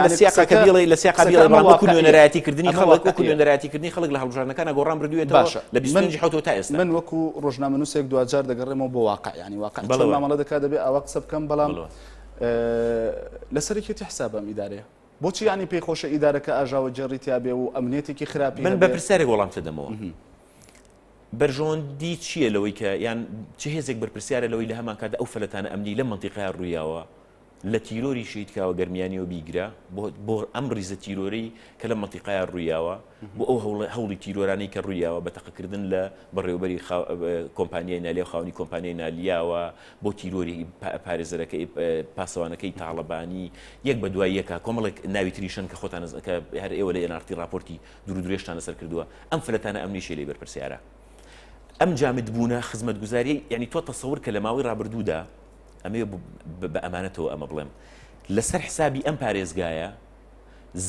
لەسیقەکەبیڵی لە سیقابیڵێنەرایەتی کردنی خەڵک وەکو نوێنەرایەتی کردنی خەڵک لە هەڵبژارنەکانە گۆڕان بردوێت باشە لە بیسنجی حوت تا ئێستا من وەکو ڕژنامە نووسێک دوجار دەگەڕێمەوە بۆ واقعیانی واقع بەڵامەڵە دەکات دەبێت ئەوە قسە بکەم بەڵام لە سەرێکی حسابم ئیدارەیە بۆچی یانی پێی خۆشە ئیدارەکە ئاژاوە گێڕی تیا بێ و ئەمنیەتێکی خراپی من بە هەبێ؟ پرسیارێک وەڵامتە دەمەوە بەرژەوەندی چییە لەوەی کە یان چ هێزێک بەرپرسیارە لەوەی لە هەمان کاتدا ئەو فەلەتانە ئەمنی لە منتیقای ڕوویاوە لە تیرۆری شەید کاوە گەرمیانیەوە بیگرە بۆ بۆ ئەم ریزە تیرۆرەی کە لە منتیقای ڕوویاوە بۆ ئەو هەوڵ هەوڵی تیرۆرانەی کە ڕوویاوە بە تەقەکردن لە بەڕێوەبەری خاو- کۆمپانیای نالیا و خاوەنی کۆمپانیای نالیاوە بۆ تیرۆری پارێزەرەکەی پاسەوانەکەی تاڵەبانی یەک بە دوای یەکە کۆمەڵێک ناوی تریشن کە خۆتان کە هەر ئێوە لە ئێنارتی راپۆرتی درو درێژتان لەسەر کردووە ئەم فلەتانە ئەم نیشێ لێ بەرپرسیارە ئەم جامد بوونە خزمەت گوزاری یعنی تۆ تەسەور کە لە ماوەی رابردوودا ئەمێ بە ئەمانەتەوە ئەمە بڵێم لەسەر حسابی ئەم پارێزگایە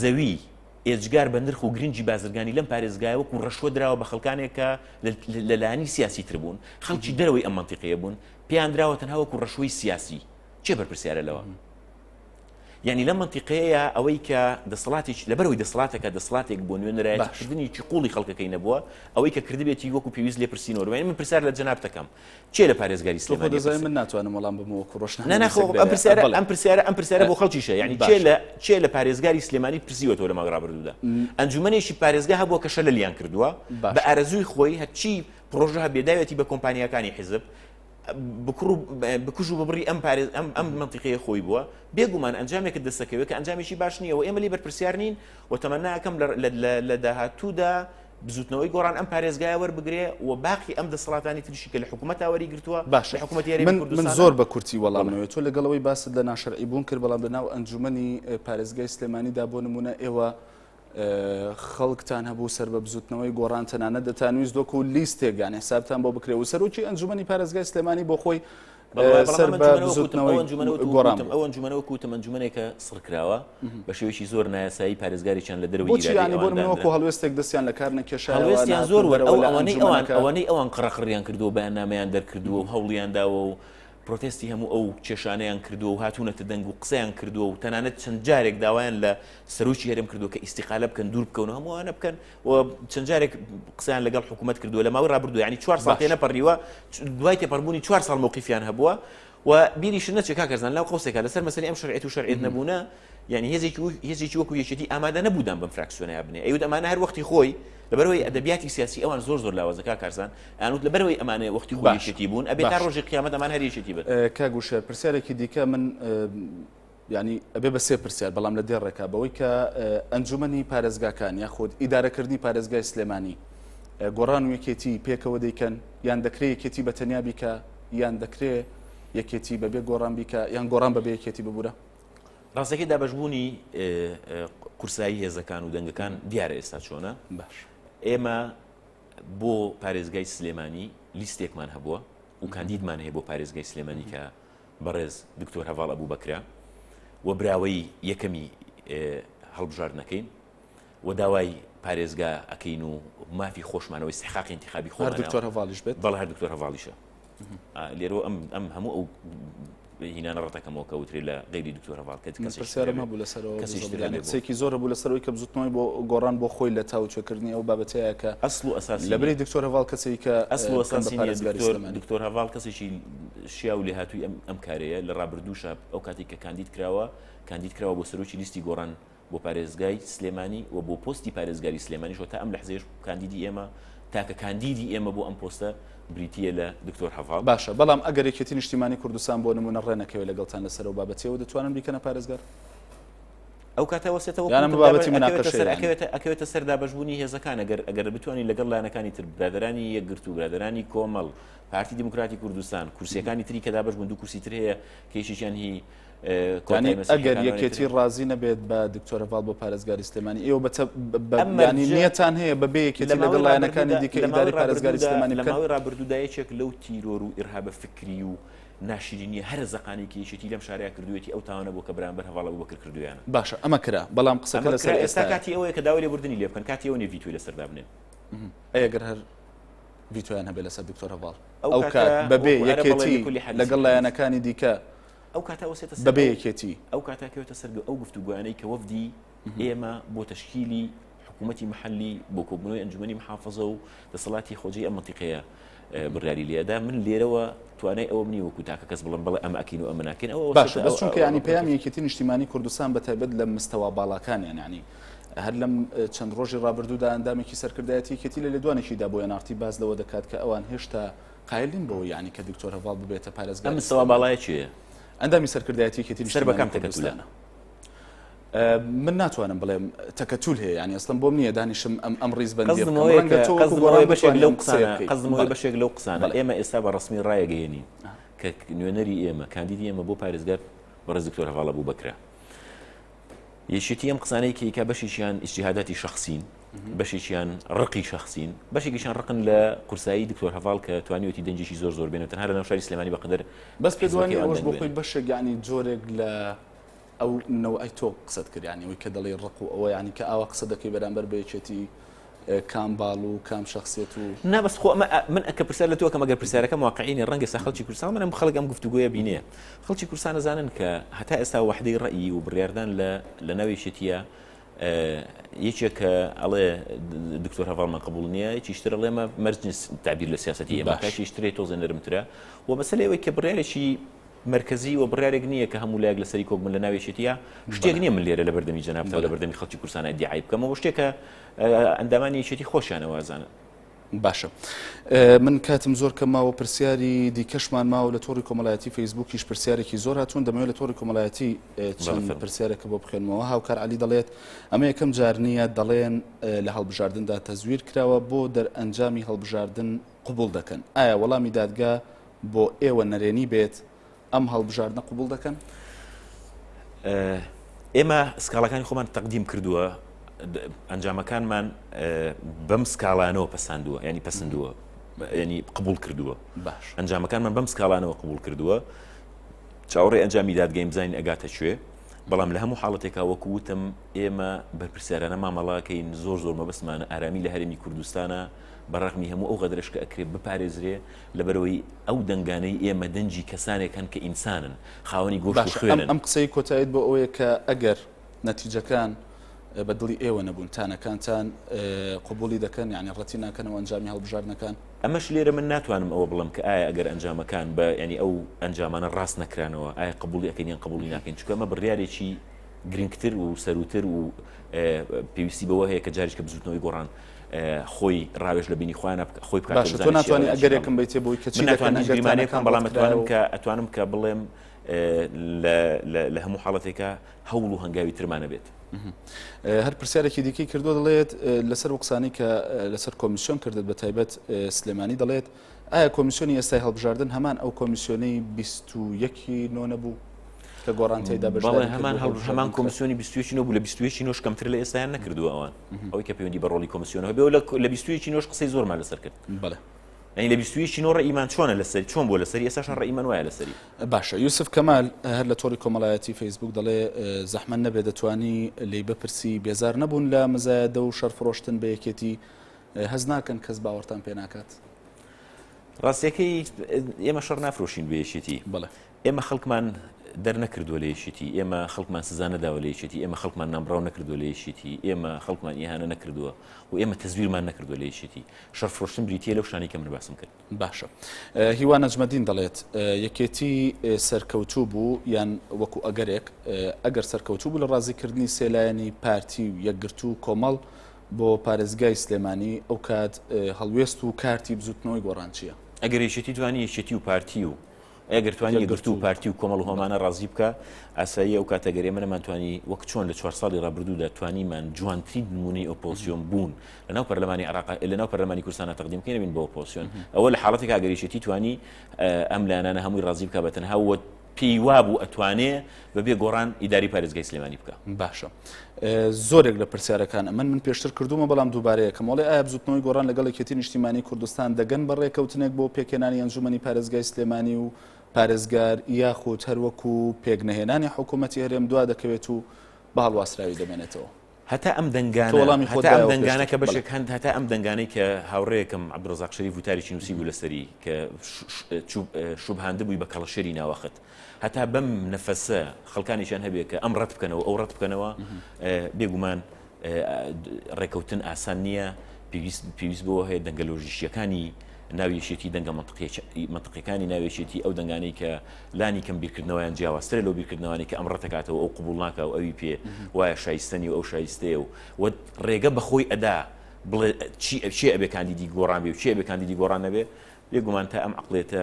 زەوی ئێجگار بە نرخ و گرنگی بازرگانی لەم پارێزگایە وەکو ڕەشوە دراوە بە خەڵکانێک کە لە لایەنی سیاسی تر بوون خەڵکی دەرەوەی ئەم مەنتیقەیە بوون پێیان دراوە تەنها وەکو ڕەشوەی سیاسی چێ بەرپرسیارە لەوە یعنی لە منتیقەیە ئەوەی کە دەسەڵاتێک لەبەرەوەی دەسەڵاتەکە دەسەڵاتێک بۆ نوێنەرایەتکردنیی قوڵی خەڵکەکەی نەبووە ئەوەی کە کردبێتی وەکو پێویست لێ پرسیینەوە من پرسیار لە جەنابتەکەم کێ لە پارێزگاری سلێمانی تۆ خۆ دەزانی من ناتوانم وەڵام بم وەکو ڕۆژنامە ناخۆ ئەم پرسیارە ئەم پرسیارە ئەم پرسیارە بۆ خەڵکیشە یعنی کێ لە کێ لە پارێزگاری سلێمانی پرسیوەتەوە لە مانگ ڕابردوودا ئەنجومەنێکی پارێزگا هەبووە کە شەلە لیان کردووە بە ئارەزووی خۆی هەرچی پرۆژە هەبێداوێتی بە کۆمپانیەکانی حیزب بکڕ بکوژ و ببڕی ئەم پارێز ئەم ئەم منتیقەیە خۆی بووە بێگومان ئەنجامێکە دەستەکەوێت کە ئەنجامێکی باش نییە و ئێمە لی بەرپرسیار نین و تەمەناکەم لە داهاتوودا بزوتنەوەی گۆڕان ئەم پارێزگای وەربگرێ و باقی ئەم دەسەڵاتانی تریشی کە لە حکوومەت تاوەری گرتووە باش حکوومەت یاری من من زۆر بە کورتی وەڵامەوە تۆ لەگەڵەوەی باست لە ناشرعی بوون کرد بەڵام لە ناو ئەنجومی پارێزگای سلێمانیدا بۆ نمونە ئێوە خەڵکتان هەبوو سەر بە بزوتنەوەی گۆڕان تەنانە دەتانویست دۆک و لیست تێگان حسابتان بۆ بکرێ و سەرۆکی ئەنجومی پارێزگای سلێمانی بۆ خۆی سەر بە بزوتنەوەی گۆڕان ئەو ئەنجومەنە وەکو وتم ئەنجومەنێکە سڕکراوە بە شێوەیەکی زۆر نایاسایی پارێزگاریان لە دەروی ئیرانی بۆ من وەکو هەڵوێستێک دەستیان لە کار نەکێشا هەڵوێستیان زۆر وەر ئەو ئەوانەی ئەوان ئەوانەی ئەوان قڕەقڕیان کردو و بەیاننامەیان دەرکردووە و هەوڵیان داوە و پرۆتستی هەموو ئەو کێشانیان کردو و هاتوونەتە دەنگ و قسەیان کردووە و تەنانەت چەند جارێک داوایان لە سەرۆکی هەرێم کردو کە ئیسیقالە بکەن دوور بکەون هەمووانە بکەن و چەند جارێک قسەیان لەگەڵ حکوومەت کردووە لە ماوەی ڕابردوو ینی چوار ساڵ تێ نەپەڕیوە دوای تێپەربوونی چوار ساڵ مووقیفیان هەبووە و بیریش نەچێ کاکەزان لەو قوسێکە لەسەر مەسەری ئەم شرعێت و شەرعێت نەبوونە یعنی هێزێکی و هێزێکی وەکو یەکێتی ئامادە نەبوودان بم فراکسیۆنیا بنێ ئەوت ئەمانە هەر وەختی خۆی لەبەرەوەی ئەدەبیاتی سیاسی ئەوان زۆر زۆر لاوەزەکە کارزان ئەنوت لەبەرەوەی ئەمانە وەختی باشێتی بوون ئەبێ تا ڕۆژی قیامەت ئەمان هەریێتی بێت کاگوشێر پرسیارێکی دیکە من یانی ئەبێ بە سێ پرسیار بەڵام لە دێ ڕێکا بەوەی کە ئەنجومەنی پارێزگاکان یا خۆت ئیدارەکردنی پارێزگای سلێمانی گۆڕان و یەکێتی پێکەوە دەیکەن یان دەکرێ یەکێتی بە تەنیا بیکە یان دەکرێ یەکێتی بەبێ گۆڕان بیکە یان گۆڕان بەبێ یەکێتی ببوورە ڕاستەکەی دابشبوونی قورسایی هێزەکان و دەنگەکان دیارە ئێستا چۆنە باش ئێمە بۆ پارێزگای سلێمانی لیستێکمان هەبووە و کاندیدمان هەیە بۆ پارێزگای سلێمانی کە بەڕێز دکتۆر هەڤاڵ ئەبوبەکرە و براوەی یەکەمی هەڵبژاردنەکەین و داوای پارێزگا ئەکەین و مافی خۆشمانەوەی سحقاقی انتخابی خۆ دکتۆر هەواڵیش بێت بەڵ هەر دکتۆر هەواڵیشە لێرۆ ئەم ئەم هەموو ئەو هینانە ڕەتەکەمەوە کە وترێ لە غیری دکتۆر هەواڵ کە پرسیارم هەبوو لەسەرەوە کەسێکی زۆر هەبوو لەسەرەوەی کە بزوتنەوەی بۆ گۆڕان بۆ خۆی لە تاوتوێکردنی ئەو بابەتەیە کە ئەسڵ و ئەساس لەبری دکتۆر هەواڵ کەسێکە ئەسڵ و ئەساسی دکتۆر هەواڵ کەسێکی شیاو و لێهاتووی ئەم کارەیە، لە رابردووشا ئەو کاتێک کە کاندید کراوە، کاندید کراوە بۆ سەرۆکی لیستی گۆڕان بۆ پارێزگای سلێمانی و بۆ پۆستی پارێزگاری سلێمانیش و تا ئەم لەحزەیەش کاندیدی ئێمە، تاکە کاندیدی ئێمە بۆ ئەم پۆستە بریتییە لە دکتۆر هەڤاڵ. باشە، بەڵام ئەگەر یەکێتی نیشتیمانی کوردستان بۆ نموونە رێنەکەوێت لەگەڵتان لەسەر ئەو بابەتیەوە دەتوانن بیکەنە پارێزگار؟ ئەو کاتە وەسێتە وەک وتم بابەتی موناقەشەیە یانی. ئەکەوێتە سەر دابەشبوونی هێزەکان، ئەگەر ئەگەر بتوانین لەگەڵ لایەنەکانی تر، برادەرانی یەکگرتوو، برادەرانی کۆمەڵ، پارتی دیموکراتی کوردستان کورسیەکانی تری کە دابەش بوون دوو کورسی تر هەیە کە یەکێکیان هی کۆتایی مەسیحیەکانە ئەگەر ئەوانەی یەکێتی ترن. ڕازی نەبێت بە دکتۆرە ڤاڵ بۆ پارێزگاری سلێمانی ئێوە بە تە- بە- بە- ئەم ینی مەرجە نیەتان هەیە بە بێ یەکێتی لە ماوەی لەگەڵ لایەنەکانی ڕابردوودا- دیکە لە ماوەی ئیداری پارێزگاری ڕابردوودا- سلێمانی لە بکەن ماوەی ڕابردوودا یەکێک لەو تیرۆر و ئیرهابە فکری و ناشرینیە هەرە زەقانەی کە یەکێتی لەم شارەیا کردوویەتی ئەو تاوانە بووە کە بەرامبەر هەڤاڵ ئەبوبەکر کردوویانە باشە ئەمە کرا بەڵام قسەکە ئەمە لەسەر کرا ئێستا ئێستایە کاتی ئەوەیە کە داوای لێبوردنی لێ بکەن کاتی ئەوە نیە ڤیتۆی لەسەر دابنێن ئەی ئەگەر هەر ڤیتۆیان هەبێت لەسەر دکتۆر هەڤاڵ ئەو کات بەبێ یەکێتی لەگەڵ لایەنەکانی دیکە ئەو کاتە وەسێتە بەبێ یەکێتی ئەو کاتاکەوێتە سەر ئەو گفتوگویانەی کە وەفدی ئێمە بۆ تشکیلی حکوومەتتی محلی بۆ کۆبنەوەی ئەنجومی محافظە و دەسەڵاتی خۆجی ئەم منتیقەیە بڕیاری لێدا من لێرەوە توانای ئەوە منی وەکو تاکە کەس بڵم بڵێ ئەمە ئەکین و ئەمە ناکەین ئەوە باشە بەس چونکە ینی پەیامیەکیتی نیشتیمانی کوردستان بە تایبەت لە مستەوا باڵاکانیان ینی هەر لەم چەند ڕۆژی ڕابردوودا ئەندامێکی سەرکردایەتی یەکێتی لە لێدوانێکیدا بۆ ئێناڕتی باس لەوە دەکات کە ئەوان هێشتا قایل نین بەوە یعنی کە دکتۆر هەڤاڵ ببێتە پارێزگار ئەم مستەوا باڵایە چیە؟ ئەندامی سەرکردایەتی یەکێتی سەر بەکەم تەکەتولانە من ناتوانم بڵێم تەکەتول هەیە ینی ئەستم بۆم نییە دانیشم ئەم ئەم ڕیز بەندی بەشێک لەو قسانە ئێمە ئێستا بە ڕسمی ڕایەگەێنی کە نوێنەری ئێمە کاندیدی ئێمە بۆ پارێزگار بەڕێز دکتۆر هەواڵە بوو بکرا یەکێتی ئەم قسانەی کەی کە بەشێکیان ئیسیهاداتی شخصین بەشێکیان ڕقی شخصین بەشێکیشان ڕقن لە قورسایی دکتۆر هەواڵ کە توانیوەتی دەنجێکی زۆر زۆر بێنێت هەر لەناو شاری سلێمانی بەقدر بەس پێدوانی ئەوەش بۆ خۆی بەشێک ینی جۆرێک لە ئەو نەوەی تۆ قسەت کردیانی ئەوی کە دەڵی ڕق و ئەوە ینی کە ئاوا قسە دەکەی بەرامبەر بە یەکێتی کام باڵ و کام شەخسیەت و. نا بەس خۆ ئەمە من ئەکە پرسیار لە تۆ ئەکەم ئەگەر پرسیارەکەم واقعینی ڕەنگە سا خەڵکی کوردستان منم خەڵک ئەم گفتوگۆیە بینێ خەڵکی کوردستان ئەزانن کە هەتا ئێستا وەحدەی ڕەئی و بڕیاردان لە لە ناو یەکێتیە یەکێک کە ئەڵێ دکتۆر هەواڵمان قبول نییە یەکیشتر ئەڵێ مە مەرج نیست تعبیر لە سیاسەتی ئێمە کاکیشترێ تۆزێ نەرمترە و مەسەلەوەی کە بڕارێکی مەرکەزی و بڕیارێک نییە کە هەموو لایەک لەسەری کۆک بن لە ناو یەکێتییە، شتێک نییە من لێرە لە بەردەمی جەنابتان و لە بەردەمی خەڵکی کوردستان ئیدیعای بکەم، ئەوە شتێک کە ئەندامانی یەکێتی خۆشیان وازانن. باشە من کاتم زۆر کەم ماوە پرسیاری دیکەشمان ماوە لە تۆڕی کۆمەڵایەتی فەیسبوکیش پرسیارێکی زۆر هاتوون دەمەوێت لە تۆڕی کۆمەڵایەتی چەند پرسیارێکە بۆ بخێنمەوە هاوکار علی دەڵێت ئەمە یەکەم جار نییە دەڵێن لە هەڵبژاردندا تەزویر کراوە بۆ دەرئەنجامی هەڵبژاردن قوبول دەکەن ئایا وەڵامی دادگا بۆ ئێوە نەرێنی بێت ئەم هەڵبژاردنە قبوڵ دەکەن؟ ئێمە سکاڵەکانی خۆمان تەقدیم کردووە ئەنجامەکانمان بەم سکاڵانەوە پساندووە ینی پسندووە ینی قبول کردووە باش ئەنجامەکانمان بەم سکاڵانەوە قبول کردووە چاوەڕێ ئەنجامی دادگەیم بزانین ئەگاتە کوێ بەڵام لە هەموو حاڵەتێکا وەکو وتم ئێمە بەرپرسیارانە مامەڵاکەین زۆر زۆر مەبستمانە ئارامی لە هەرمی کوردستانە بەڕغمی هەموو ئەو غەدرشکە ئەکرێت بپارێزرێ لەبەرئەوەی ئەو دەنگانەی ئێمە دەنگی کەسانێک هەن کە ئینسانن، خاوەنی گۆشت و خوێنن. باشە ئەم قسەی کۆتایت بۆ ئەوەیە کە ئەگەر نەتیجەکان بە دڵی ئێوە نەبوون، تانەکانتان قبوڵی دەکەن، یانی ڕەتی ناکەنەوە ئەنجامی هەڵبژاردنەکان؟ ئەمەش لێرە من ناتوانم ئەوە بڵێم کە ئایا ئەگەر ئەنجامەکان بە یانی ئەو ئەنجامانە ڕاست نەکرانەوە ئایا قبوڵی ئەکەین یان قبوڵی ناکەین، چونکە ئەمە بڕیارێکی گرنگتر و سەرووتر و پێویستی بەوە هەیە کە جاریشکە بزووتنەوەی گۆڕان خۆی ڕاوێژ لە بینی خۆیانە خۆی باشە تۆ ناتوانانی ئەگەرێکم بیتێ بۆی کەچی ناتوانانی گریمانەکان بەڵام ئەتوانم کە ئەتوانم کە بڵێم لە هەموو حاڵەتێکە هەوڵ و هەنگاوی ترمانە بێت هەر پرسیارێکی دیکەی کردو دەڵێت لەسەر قسانی کە لەسەر کۆمیسیۆن کردت بە تایبەت سلێمانی دەڵێت ئایا کۆمیسیۆنی ئێستای هەڵبژاردن هەمان ئەو کۆمیسیۆنەی بیست و یەک ی نۆ نەبوو؟ کە گۆڕان تێدا بەشداری بەڵێ کرد هەمان بۆ هەڵبژاردن هەڵبژاردن هەمان کرا. کۆمیسیۆنی بیست و یەک ی نۆ بوو لە بیست و یەک ی نۆش کەمتر لە ئێستایان نەکردووە ئەوان ئەوەی کە پەیوەندی بە ڕۆڵی کۆمیسیۆنەوە بێ و لە لە بیست و یەک ی نۆش قسەی زۆرمان لەسەر کرد بەڵێ. یانی لە بیست و یەک ی نۆ ڕەئیمان چۆنە لەسەر چۆن بووە لەسەری ئێستاشان ڕەئیمان وایە لەسەری باشە یوسف کەمال هەر لە تۆڕی کۆمەڵایەتی فەیسبووک دەڵێ زەحمەت نەبێ دەتوانی لێی بپرسی بێزار نەبوون لە مزایەدە و شەڕ فڕۆشتن بە یەکێتی هەست ناکەن کەس باوەڕتان پێ ناکات؟ ڕاستیەکەی ئێمە شەڕ نافرۆشین بە یەکێتی ئێمە خەڵکمان دەرنەکردووە لە یەکێتی ئێمە خەڵکمان سزا نەداوە لە یەکێتی ئێمە خەڵکمان نامبراو نەکردووە لە یەکێتی ئێمە خەڵکمان ئیهانە نەکردووە و ئێمە تەزویرمان نەکردووە لە یەکێتی شەڕ فرۆشتن بریتە لەو شانی کە من باسم کرد باشە هیوا نەجمەدین دەڵێت یەکێتی سەرکەوتوو بوو یان وەکو ئەگەرێک ئەگەر سەرکەوتوو بوو لە ڕازیکردنی سێلایەنی پارتی و یەکگرتوو کۆمەڵ بۆ پارێزگای سلێمانی ئەوکات هەڵوێست و کارتی بزوتنەوەی گۆڕان چیە؟ ئەگەر یەکێتی توانی یەکێتی و پارتی و ئەگەر توانی یەکگرتو و پارتی و کۆمەڵ هۆمانە ڕازی بکە ئاساییە ئەو کاتە گەرێمە نەمانتوانی وەک چۆن لە چوار ساڵی ڕابردوودا توانیمان جوانترین نمونەی ئۆپۆزسیۆن بوون لەناو پەرلەمانی عراق لەناو پەرلەمانی کوردستانە تەقدیم بکەین بین بۆ ئۆپۆزسیۆن ئەوە لە حاڵەتێکا گەر یەکێتی توانی ئەم لایەنانە هەمووی ڕازی بکە بە تەنها و پێی وابوو ئەتوانێ بە بێ گۆڕان ئیداری پارێزگای سلێمانی بکە باشە زۆرێک لە پرسیارەکان ئەمن من پێشتر کردومە بەڵام دووبارەیەکەم وڵێ ئایا بزوتنەوەی گۆڕان لەگەڵ یەکێتی نیشتیمانی کوردستان دەگەن بە ڕێکەوتنێک بۆ پێکێنانی ئەنجومنی پارێزگای سلێمانی و پارێزگار یاخود هەروەکو پێکنەهێنانی حکوومەتتی هەرێم دوا دەکەوێت و بە هەڵواسراوی دەمێنێتەوە هەتا ئەم تۆ دەنگانە، وەڵامی خۆت هەتا ئەم دایەوە دەنگانە پێشتر. کە بەشێک بەڵێ. هەن، هەتا ئەم دەنگانەی کە هاوڕێیەکم عەبدولرەزاق شەریف وتارێکی نووسیبوو لەسەری کە ش ش چوو شوبهاندبووی بە کەڵەشێری ناوەخت. هەتا بەم نەفەسە خەڵکانێکیان هەبێ کە ئەم ڕەت بکەنەوە و ئەو ڕەت بکەنەوە، بێ گومان ڕێکەوتن ئاسان نییە، پێویست پێویست بەوە هەیە دەنگە لۆژیکییەکانی، ناوی یەکێتی دەنگە مەنتقیەکانی ناوی یەکێتی ئەو دەنگانەی کە لانی کەم بیرکردنەوەیان جیاوازترە لەو بیرکردنەوانەی کە ئەم ڕەتەکاتەوە ئەو قبول ناکە و ئەوی پێ وایە شایستەنی و ئەو شایستەیە و و ڕێگە بەخۆی ئەدا بڵێ چی ئەبێ کاندیدی گۆڕان بێ و چی ئەبێ کاندیدی گۆڕان نەبێ بێگومان تا ئەم عقلێتە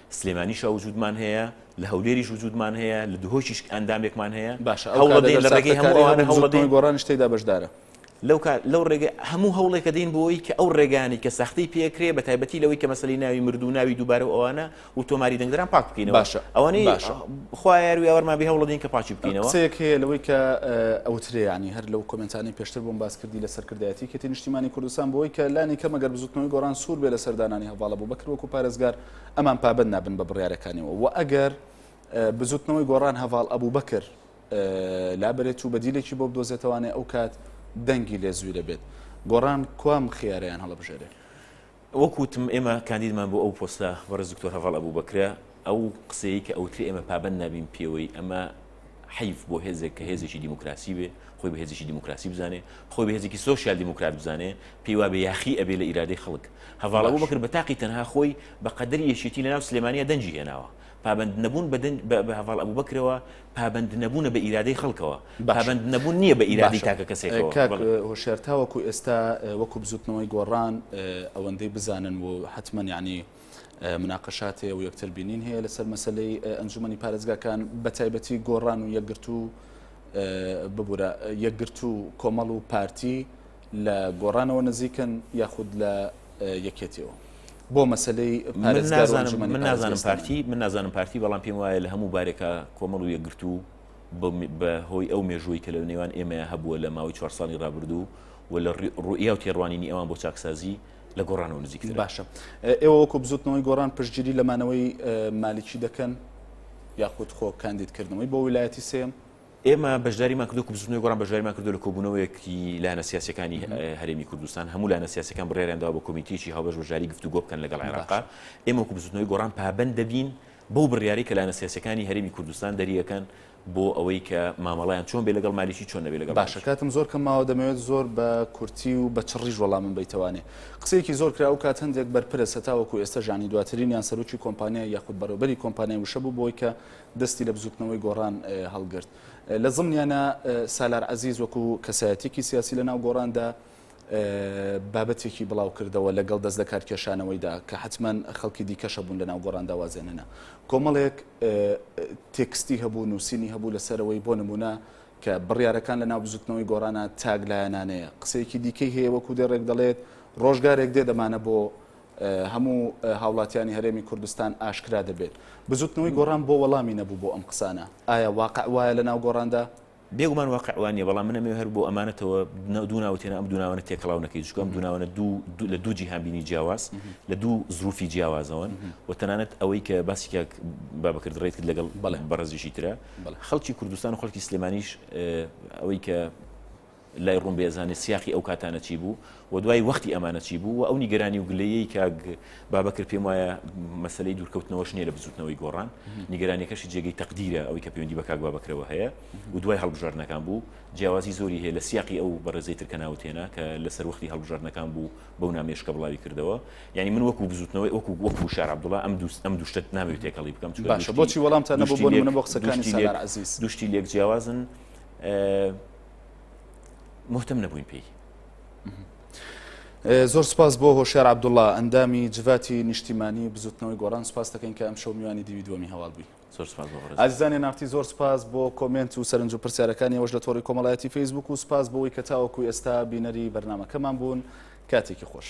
سلێمانیشا وجودمان هەیە، لە هەولێریش وجودمان هەیە، لە دهۆکیش ئەندامێکمان هەیە، باشە ئەو کات ئەگەر ساختەکارەیە بن زۆر کەمی گۆڕانیش تێیدا بەشدارە؟ لەو کات لەو ڕێگە هەموو هەوڵێک ئەدەین بۆ ئەوەی کە ئەو ڕێگانەی کە ساختەی پێ ئەکرێ بە تایبەتی لەوەی کە مەسەلەی ناوی مرد و ناوی دووبارە و ئەوانە و تۆماری دەنگدەران پاک بکەینەوە باشە ئەوانەی باشە خوا یار و یاوەرمان بێ هەوڵ ئەدەین کە پاکی بکەینەوە قسەیەک هەیە لەوەی کە ئەوترێ یانی هەر لەو کۆمێنتانەی پێشتر بۆم باس کردی لە سەرکردایەتی یەکێتی نیشتیمانی کوردستان بۆی کە لانی کەم ئەگەر بزوتنەوەی گۆڕان سوور بێ لەسەر دانانی هەڤاڵە بوبەکر وەکوو پارێزگار ئەمان پابەند نابن بە بڕیارەکانیەوە و ئەگەر بزوتنەوەی گۆڕان هەڤاڵ ئەبوبەکر لابرێت و بەدیلێکی بۆ بدۆزێتەوانێ ئەو کات دەنگی لێ زوی دەبێت گۆڕان کوام خیارەیان هەڵبژێرێ وەکوتم ئێمە کاندیدمان بۆ ئەو پۆستە بەڕێز دکتۆر هەڤاڵ ئەبوبەکرە ئەو قسەیە کە ئەوتری ئێمە پابەند نابین پێوەی ئەمە حەیف بۆ هێزێک کە هێزێکی دیموکراسی بێ خۆی بە هێزێکی دیموکراسی بزانێ خۆی بە هێزێکی سۆسیال دیموکرات بزانێ پێی وابێ یاخی ئەبێ لە ئیرادەی خەڵک هەواڵە بۆ بکرد بە تاقی تەنها خۆی بە قەدەری یەکێتی لە ناو سلێمانیا دەنجی هێناوە پابند نەبوون بە هەواڵ ئەبوو بکرەوە پابند نەبوونە بە ئیرادەی خەڵکەوە پابند نەبوون نییە بە ئیرادی تاکە کەسێکەوە هۆشارتاوەکو ئێستا وەکو بزوتنەوەی گۆڕان ئەوەندەی بزانن و حتممە ینی مناقەشات هەیە و یەکتر بینین هەیە لەسەر مەسلەی ئەنجومی پارێزگاکان بە تایبەتی گۆڕان و یەکگرت و ببورە یەکگرت و کۆمەڵ و پارتی لە گۆڕانەوە نزیکن یاخود لە یەکێتیەوە. بۆ مەسلەی من نازانم پارتی من نازانم پارتی بەڵام پێم وایە لە هەموو بارێکە کۆمەڵ و یەکگرت و بە هۆی ئەو مێژووی کە لە نێوان ئێمە هەبووە لە ماوەی چوار ساڵی ڕابردوو و لە ڕوئیا و تێڕوانینی ئەوان بۆ چاکسازی لە گۆڕانەوە نزیکتر باشە ئێوە وەکو بزوتنەوەی گۆڕان پشتگیری لە مانەوەی مالیکی دەکەن یاخود خۆ کاندیدکردنەوەی بۆ ویلایەتی سێم ئێمە بەشداریمان کردو بزنەوەی گۆڕان بەشداریمان کردو لە کۆبوونەوەیەکی لایەنە سیاسەکانی هەرێمی کوردستان هەموو لایەنە سیاسەکان بڕێراندا بە کمیتێکی هاوبەش بەشداری گفتوگۆ بکەن لەگەڵ عێراق ئێمە وەکو بزنەوەی گۆڕان پابەند دەبین بەو بڕیاری کە لایەنە سیاسەکانی هەرێمی کوردستان دەریەکەن بۆ ئەوەی کە مامەڵەیان چۆن بێت لەگەڵ مالیکی چۆن نەبێت لەگەڵ باشە کاتم زۆر کەم ماوە دەمەوێت زۆر بە کورتی و بە چڕیش وەڵامم بەیتەوانێ قسەیەکی زۆر کرا ئەوکات هەندێک بەرپرس هەتاوەکو ئێستا ژانی دواترینیان سەرۆکی کۆمپانیای یاخود بەڕێوبەری کۆمپانیای وشە بوو بۆی کە دەستی لە بزوتنەوەی گۆڕان هەڵگرت لە زمنیانا سالار عەزیز وەکو کەسایەتیەکی سیاسی لە ناو گۆڕاندا بابەتێکی بڵاو کردەوە لەگەڵ دەست لەکارکێشانەوەیدا کە حەتمەن خەڵکی دیکەش هەبوون لەناو گۆڕان داوازێنەنە کۆمەڵێک تێکستی هەبوو نووسینی هەبوو لەسەرەوەی بۆ نمونە کە بڕیارەکان لە ناو بزوتنەوەی گۆڕانە تاک لایەنانەیە قسەیەکی دیکەی هەیە وەکو دێ ڕێک دەڵێت ڕۆژگارێک دێ دەمانە بۆ هەموو هاوڵاتیانی هەرێمی کوردستان ئاشکرا دەبێت بزوتنەوەی گۆڕان بۆ وەڵامی نەبوو بۆ ئەم قسانە ئایا واقع وایە لە ناو گۆڕاندا بێگومان واقع وا نیە، بەڵام من ئەمەوێ هەر بۆ ئەمانەتەوە دوو ناوت هێنا، ئەم دوو ناوانە تێکەڵاو نەکەی، چونکە ئەم دوو ناوانە دوو دوو لە دوو جیهانبینی جیاواز، لە دوو زروفی جیاوازەوەن و تەنانەت ئەوەی کە باسی کاک بابەکر دڕێیت کرد لەگەڵ بەڕێزیشی ترە، خەڵکی کوردستان و خەڵکی سلێمانیش ئەوەی کە لای ڕوون بێ ئەزانێ سیاقی ئەو کاتانە چی بوو، وە دوای وەختی ئەمانە چی بوو؟ وە ئەو نیگەرانی و گلەییەی کاک بابەکر پێم وایە مەسەلەی دوورکەوتنەوەش نییە لە بزووتنەوەی گۆڕان، نیگەرانیەکەشی جێگەی تەقدیرە ئەوەی کە پەیوەندی بە کاک بابەکرەوە هەیە و دوای هەڵبژاردنەکان بوو، جیاوازی زۆری هەیە لە سیاقی ئەو بەڕێزەی تر کە ناوت هێنا کە لە سەروەختی هەڵبژاردنەکان بوو بەو نامەیەش کە بڵاوی کردەوە، یانی من وەکوو بزووتنەوەی وەکوو وەکوو شار عەبدوڵا ئەم دوو ئەم دوو شتەت نامەوێ تێکەڵی بکەم چونکە دوو شتی باشە بۆچی وەڵامتان نەبوو بۆ نموونە بۆ قسەکانی سالار عەزیز؟ دوو شتی لێک جیاوازن مهتم نەبووین پێی. زۆر سپاس بۆ هۆشار عبدوڵا ئەندامی جڤاتی نیشتیمانی بزوتنەوەی گۆڕان سپاس دەکەین کە ئەم شەو میوانی دیوی دووەمی هەواڵ بووی ئازیزانی نافتی زۆر سپاس بۆ کۆمنت و سەرنج و پرسیارەکانی ئەوش لە تۆڕی کۆمەڵایەتی فەیسبوک و سپاس بۆەوەی کە تاوەکو ئێستا بینەری بەرنمەکەمان بوون کاتێکی خۆش.